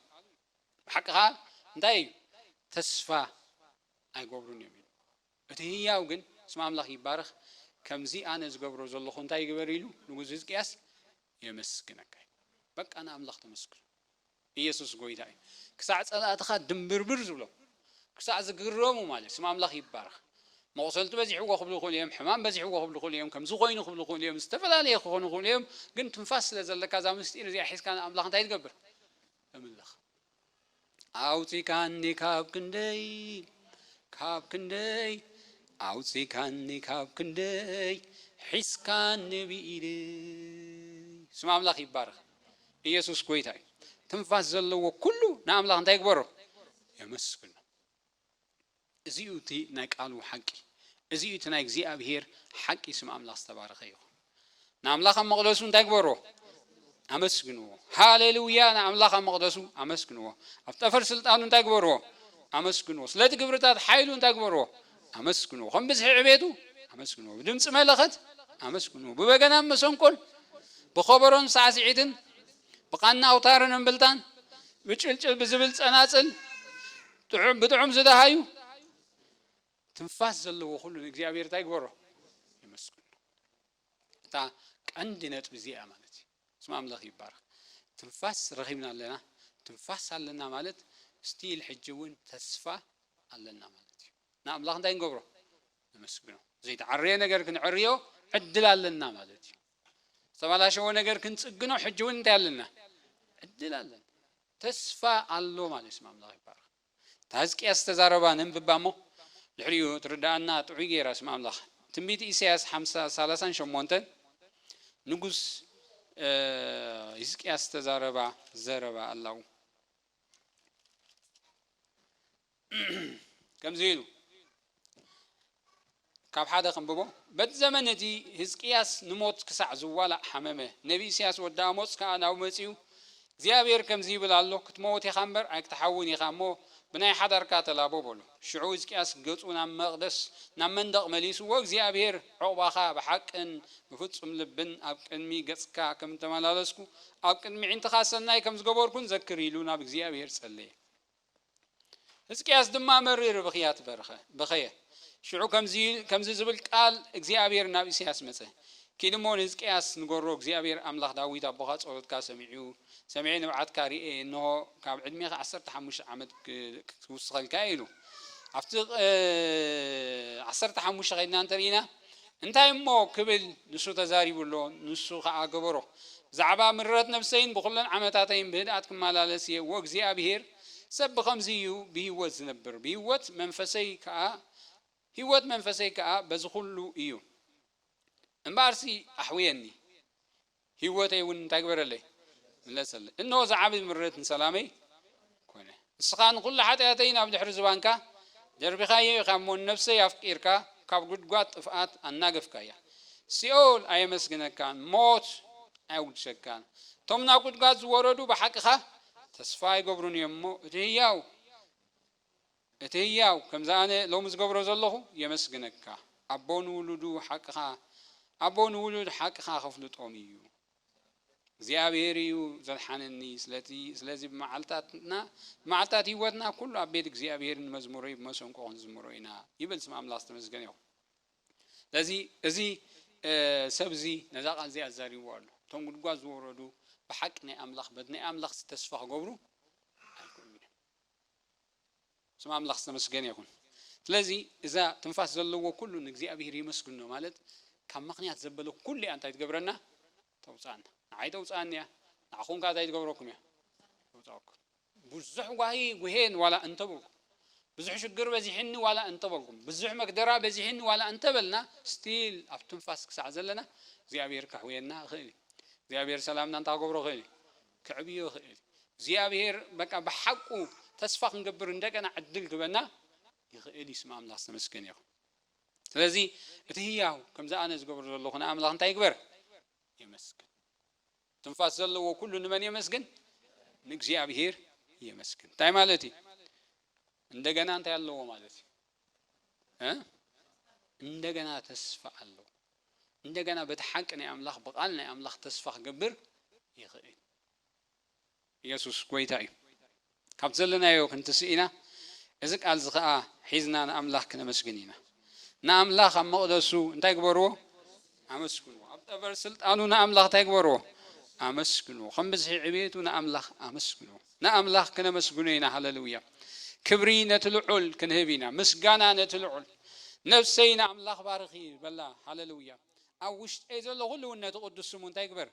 Speaker 1: ብሓቂ ከኣ እንታይ እዩ? ተስፋ ኣይገብሩን እዮም ኢሉ። እቲ ህያው ግን ስም ኣምላኽ ይባረኽ ከምዚ ኣነ ዝገብሮ ዘለኹ እንታይ ይግበር ኢሉ ንጉስ ህዝቅያስ የመስግነካ ኢሉ። በቃ ንኣምላኽ ተመስግኑ። ኢየሱስ ጎይታ እዩ። ክሳዕ ጸላእትኻ ድምብርብር ዝብሎም ክሳዕ ዝግረሙ ማለት ስም ኣምላኽ ይባረኽ። መቑሰልቲ በዚሕዎ ክብሉ ይኽእሉ እዮም፣ ሕማም በዚሕዎ ክብሉ ይኽእሉ እዮም፣ ከምዚ ኮይኑ ክብሉ ይኽእሉ እዮም፣ ዝተፈላለየ ክኾኑ ይኽእሉ እዮም፣ ግን ትንፋስ ስለ ዘለካ እዛ ምስጢር እዚኣ ሒዝካ ንኣምላኽ እንታይ ትገብር? ተምልኽ። ኣውጺካኒ ካብ ክንደይ ካብ ክንደይ ኣውጺካኒ ካብ ክንደይ ሒዝካኒ ብኢደይ ስም ኣምላኽ ይባረኽ ኢየሱስ ጎይታ እዩ ትንፋስ ዘለዎ ኩሉ ንኣምላኽ እንታይ ይግበሮ የመስግኖ እዚ እዩ እቲ ናይ ቃሉ ሓቂ እዚ እዩ እቲ ናይ እግዚኣብሄር ሓቂ ስም ኣምላኽ ዝተባረኸ ይኹን ንኣምላኽ ኣብ መቕደሱ እንታይ ግበሮ ኣመስግንዎ ሃሌሉያ ንኣምላኽ ኣብ መቕደሱ ኣመስግንዎ ኣብ ጠፈር ስልጣኑ እንታይ ግበርዎ ኣመስግንዎ ስለቲ ግብርታት ሓይሉ እንታይ ግበርዎ ኣመስግንዎ ከም ብዝሒ ዕቤቱ ኣመስግንዎ ብድምፂ መለኸት ኣመስግንዎ ብበገናን መሰንቆን ብኸበሮን ሳዕስዒትን ብቓና ኣውታርን እምብልታን ብጭልጭል ብዝብል ጸናጽል ጥዑም ብጥዑም ዝደሃዩ ትንፋስ ዘለዎ ኩሉ ንእግዚኣብሔር እንታይ ይግበሮ የመስግኖ እታ ቀንዲ ነጥቢ እዚኣ ማለት እዩ ስም ኣምላኽ ይባረኽ ትንፋስ ረኺብና ኣለና ትንፋስ ኣለና ማለት ስቲል ሕጂ እውን ተስፋ ኣለና ማለት እዩ ንኣምላኽ እንታይ ክንገብሮ? ነመስግኖ። ዘይተዓረየ ነገር ክንዕርዮ ዕድል ኣለና ማለት እዩ። ዝተባላሸወ ነገር ክንጽግኖ ሕጂ እውን እንታይ ኣለና? ዕድል ኣለና። ተስፋ ኣሎ ማለት እዩ። ስም ኣምላኽ ይባረኽ። እታ ህዝቅያስ ዝተዛረባ ነንብባ እሞ ድሕሪኡ ትርድኣና ጥዑይ ገይራ ስም ኣምላኽ። ትንቢት ኢሳያስ ሓምሳ ሰላሳን ሸሞንተን ንጉስ ህዝቅያስ ዝተዛረባ ዘረባ ኣላው። ከምዚ ኢሉ ካብ ሓደ ክንብቦ በቲ ዘመን እቲ ህዝቅያስ ንሞት ክሳዕ ዝዋላእ ሓመመ ነቢ ኢስያስ ወዲ ኣሞጽ ከኣ ናብ መጺኡ እግዚኣብሔር ከምዚ ይብል ኣሎ ክትመውት ኢኻ እምበር ኣይክትሓውን ኢኻ እሞ ብናይ ሓዳርካ ተላቦ በሎ ሽዑ ህዝቅያስ ገጹ ናብ መቕደስ ናብ መንደቕ መሊስዎ እግዚኣብሔር ዕቑባኻ ብሓቅን ብፍጹም ልብን ኣብ ቅድሚ ገጽካ ከም እተመላለስኩ ኣብ ቅድሚ ዒንትኻ ሰናይ ከም ዝገበርኩን ዘክር ኢሉ ናብ እግዚኣብሔር ጸለየ ህዝቅያስ ድማ መሪር ብኽያት በርኸ በኸየ ሽዑ ከምዚ ዝብል ቃል እግዚኣብሔር ናብ ኢሳያስ መጸ ኪድ እሞ ንህዝቅያስ ንገሮ እግዚኣብሔር ኣምላኽ ዳዊት ኣቦኻ ጸሎትካ ሰሚዑ ሰሚዐ ንብዓትካ ርኤ እንሆ ካብ ዕድሜኻ ዓሰርተ ሓሙሽተ ዓመት ክውስኸልካ ኢሉ ኣብቲ ዓሰርተ ሓሙሽተ ከይድና እንተርኢና እንታይ እሞ ክብል ንሱ ተዛሪቡ ኣሎ፣ ንሱ ኸኣ ገበሮ። ብዛዕባ ምረት ነፍሰይን ብኹለን ዓመታተይን ብህድኣት ክማላለስ እየ፣ ወእግዚኣብሄር ሰብ ብኸምዚ እዩ ብህይወት ዝነብር፣ ብህይወት መንፈሰይ ከኣ፣ ህይወት መንፈሰይ ከኣ በዚ ኹሉ እዩ። እምበኣርሲ ኣሕውየኒ። ህይወተይ እውን እንታይ ግበረለይ? ምለሰለይ። እነሆ እዚ ዓብዪ ምረት ንሰላመይ ኰነ። ንስኻ ንዅሉ ሓጢኣተይ ናብ ድሕሪ ዝባንካ ደርቢኻዮ ኢኻ እሞ፣ ንነፍሰይ ኣፍቂርካ ካብ ጕድጓድ ጥፍኣት ኣናገፍካያ። ሲኦል ኣየመስግነካን፣ ሞት ኣየጕድሰካን። እቶም ናብ ጕድጓድ ዝወረዱ ብሓቅኻ ተስፋ ኣይገብሩን እዮም እሞ፣ እቲ ህያው እቲ ህያው ከምዚ ኣነ ሎሚ ዝገብሮ ዘለኹ የመስግነካ ኣቦ ንውሉዱ ሓቅኻ ኣቦ ንውሉድ ሓቅኻ ከፍልጦም እዩ እግዚኣብሄር እዩ ዘድሓነኒ ስለቲ ስለዚ ብመዓልታትና ብመዓልታት ህይወትና ኩሉ ኣብ ቤት እግዚኣብሄር ንመዝሙረይ ብመሰንቆ ክንዝምሮ ኢና ይብል ስም ኣምላኽ ዝተመስገነ ይኹን ስለዚ እዚ ሰብ እዚ ነዛ ቃል እዚኣ ኣዛሪብዎ ኣሎ እቶም ጉድጓድ ዝወረዱ ብሓቂ ናይ ኣምላኽ በቲ ናይ ኣምላኽ ተስፋ ክገብሩ ኣይክእሉን እዮም ስም ኣምላኽ ዝተመስገነ ይኹን። ስለዚ እዛ ትንፋስ ዘለዎ ኩሉ ንእግዚኣብሄር የመስግኖ ማለት ካብ ምኽንያት ዘበለ ኩሉ እያ እንታይ ትገብረና ተውጽኣና። ንዓይ ተውጽኣኒ እያ ንዓኹም ከኣ እንታይ ትገብረኩም እያ ተውጽኣኩም። ብዙሕ ጓሂ ጉሄን ዋላ እንተበልኩም ብዙሕ ሽግር በዚሕኒ ዋላ እንተበልኩም ብዙሕ መግደራ በዚሕኒ ዋላ እንተበልና ስቲል ኣብ ትንፋስ ክሳዕ ዘለና እግዚኣብሄር ከሕውየና ይኽእል እዩ። እግዚኣብሄር ሰላምና እንታይ ክገብሮ ይኽእል እዩ ከዕብዮ ይኽእል እግዚኣብሔር በቃ ብሓቁ ተስፋ ክንገብር እንደገና ዕድል ክበና ይኽእል እዩ ስም ኣምላኽ ዝተመስገነ ይኹን ስለዚ እቲ ህያው ከምዚ ኣነ ዝገብሮ ዘለኹ ንኣምላኽ እንታይ ይግበር የመስግን ትንፋስ ዘለዎ ኩሉ ንመን የመስግን ንእግዚኣብሔር የመስግን እንታይ ማለት እዩ እንደገና እንታይ ኣለዎ ማለት እዩ እንደገና ተስፋ ኣለዎ እንደገና በቲ ሓቂ ናይ ኣምላኽ ብቓል ናይ ኣምላኽ ተስፋ ክገብር ይኽእል ኢየሱስ ጐይታ እዩ ካብቲ ዘለናዮ ክንትስኢና እዚ ቃል እዚ ከዓ ሒዝና ንኣምላኽ ክነመስግን ኢና ንኣምላኽ ኣብ መቕደሱ እንታይ ግበርዎ ኣመስግኑ ኣብ ጠበር ስልጣኑ ንኣምላኽ ታይ ግበርዎ ኣመስግኑ ከም ብዝሒ ዕብየቱ ንኣምላኽ ኣመስግኑ ንኣምላኽ ክነመስግኖ ኢና ሃለሉያ ክብሪ ነቲ ልዑል ክንህብ ኢና ምስጋና ነቲ ልዑል ነፍሰይ ንኣምላኽ ባርኺ በላ ሃለሉያ ኣብ ውሽጠይ ዘሎ ኩሉ እውን ነቲ ቅዱስ ስሙ እንታይ ግበር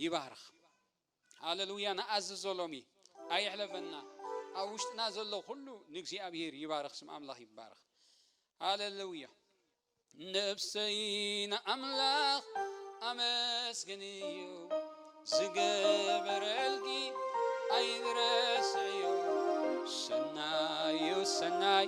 Speaker 1: ይባርኽ ሃለሉያ ንኣዝዞ ሎሚ ኣይሕለፈና ኣብ ውሽጥና ዘሎ ኩሉ ንእግዚኣብሔር ይባርኽ ስም ኣምላኽ ይባርኽ ሃለሉያ ነብሰይ ንኣምላኽ ኣመስግንዮ ዝገበረልኪ ኣይረስዕዮ ሰናዩ ሰናይ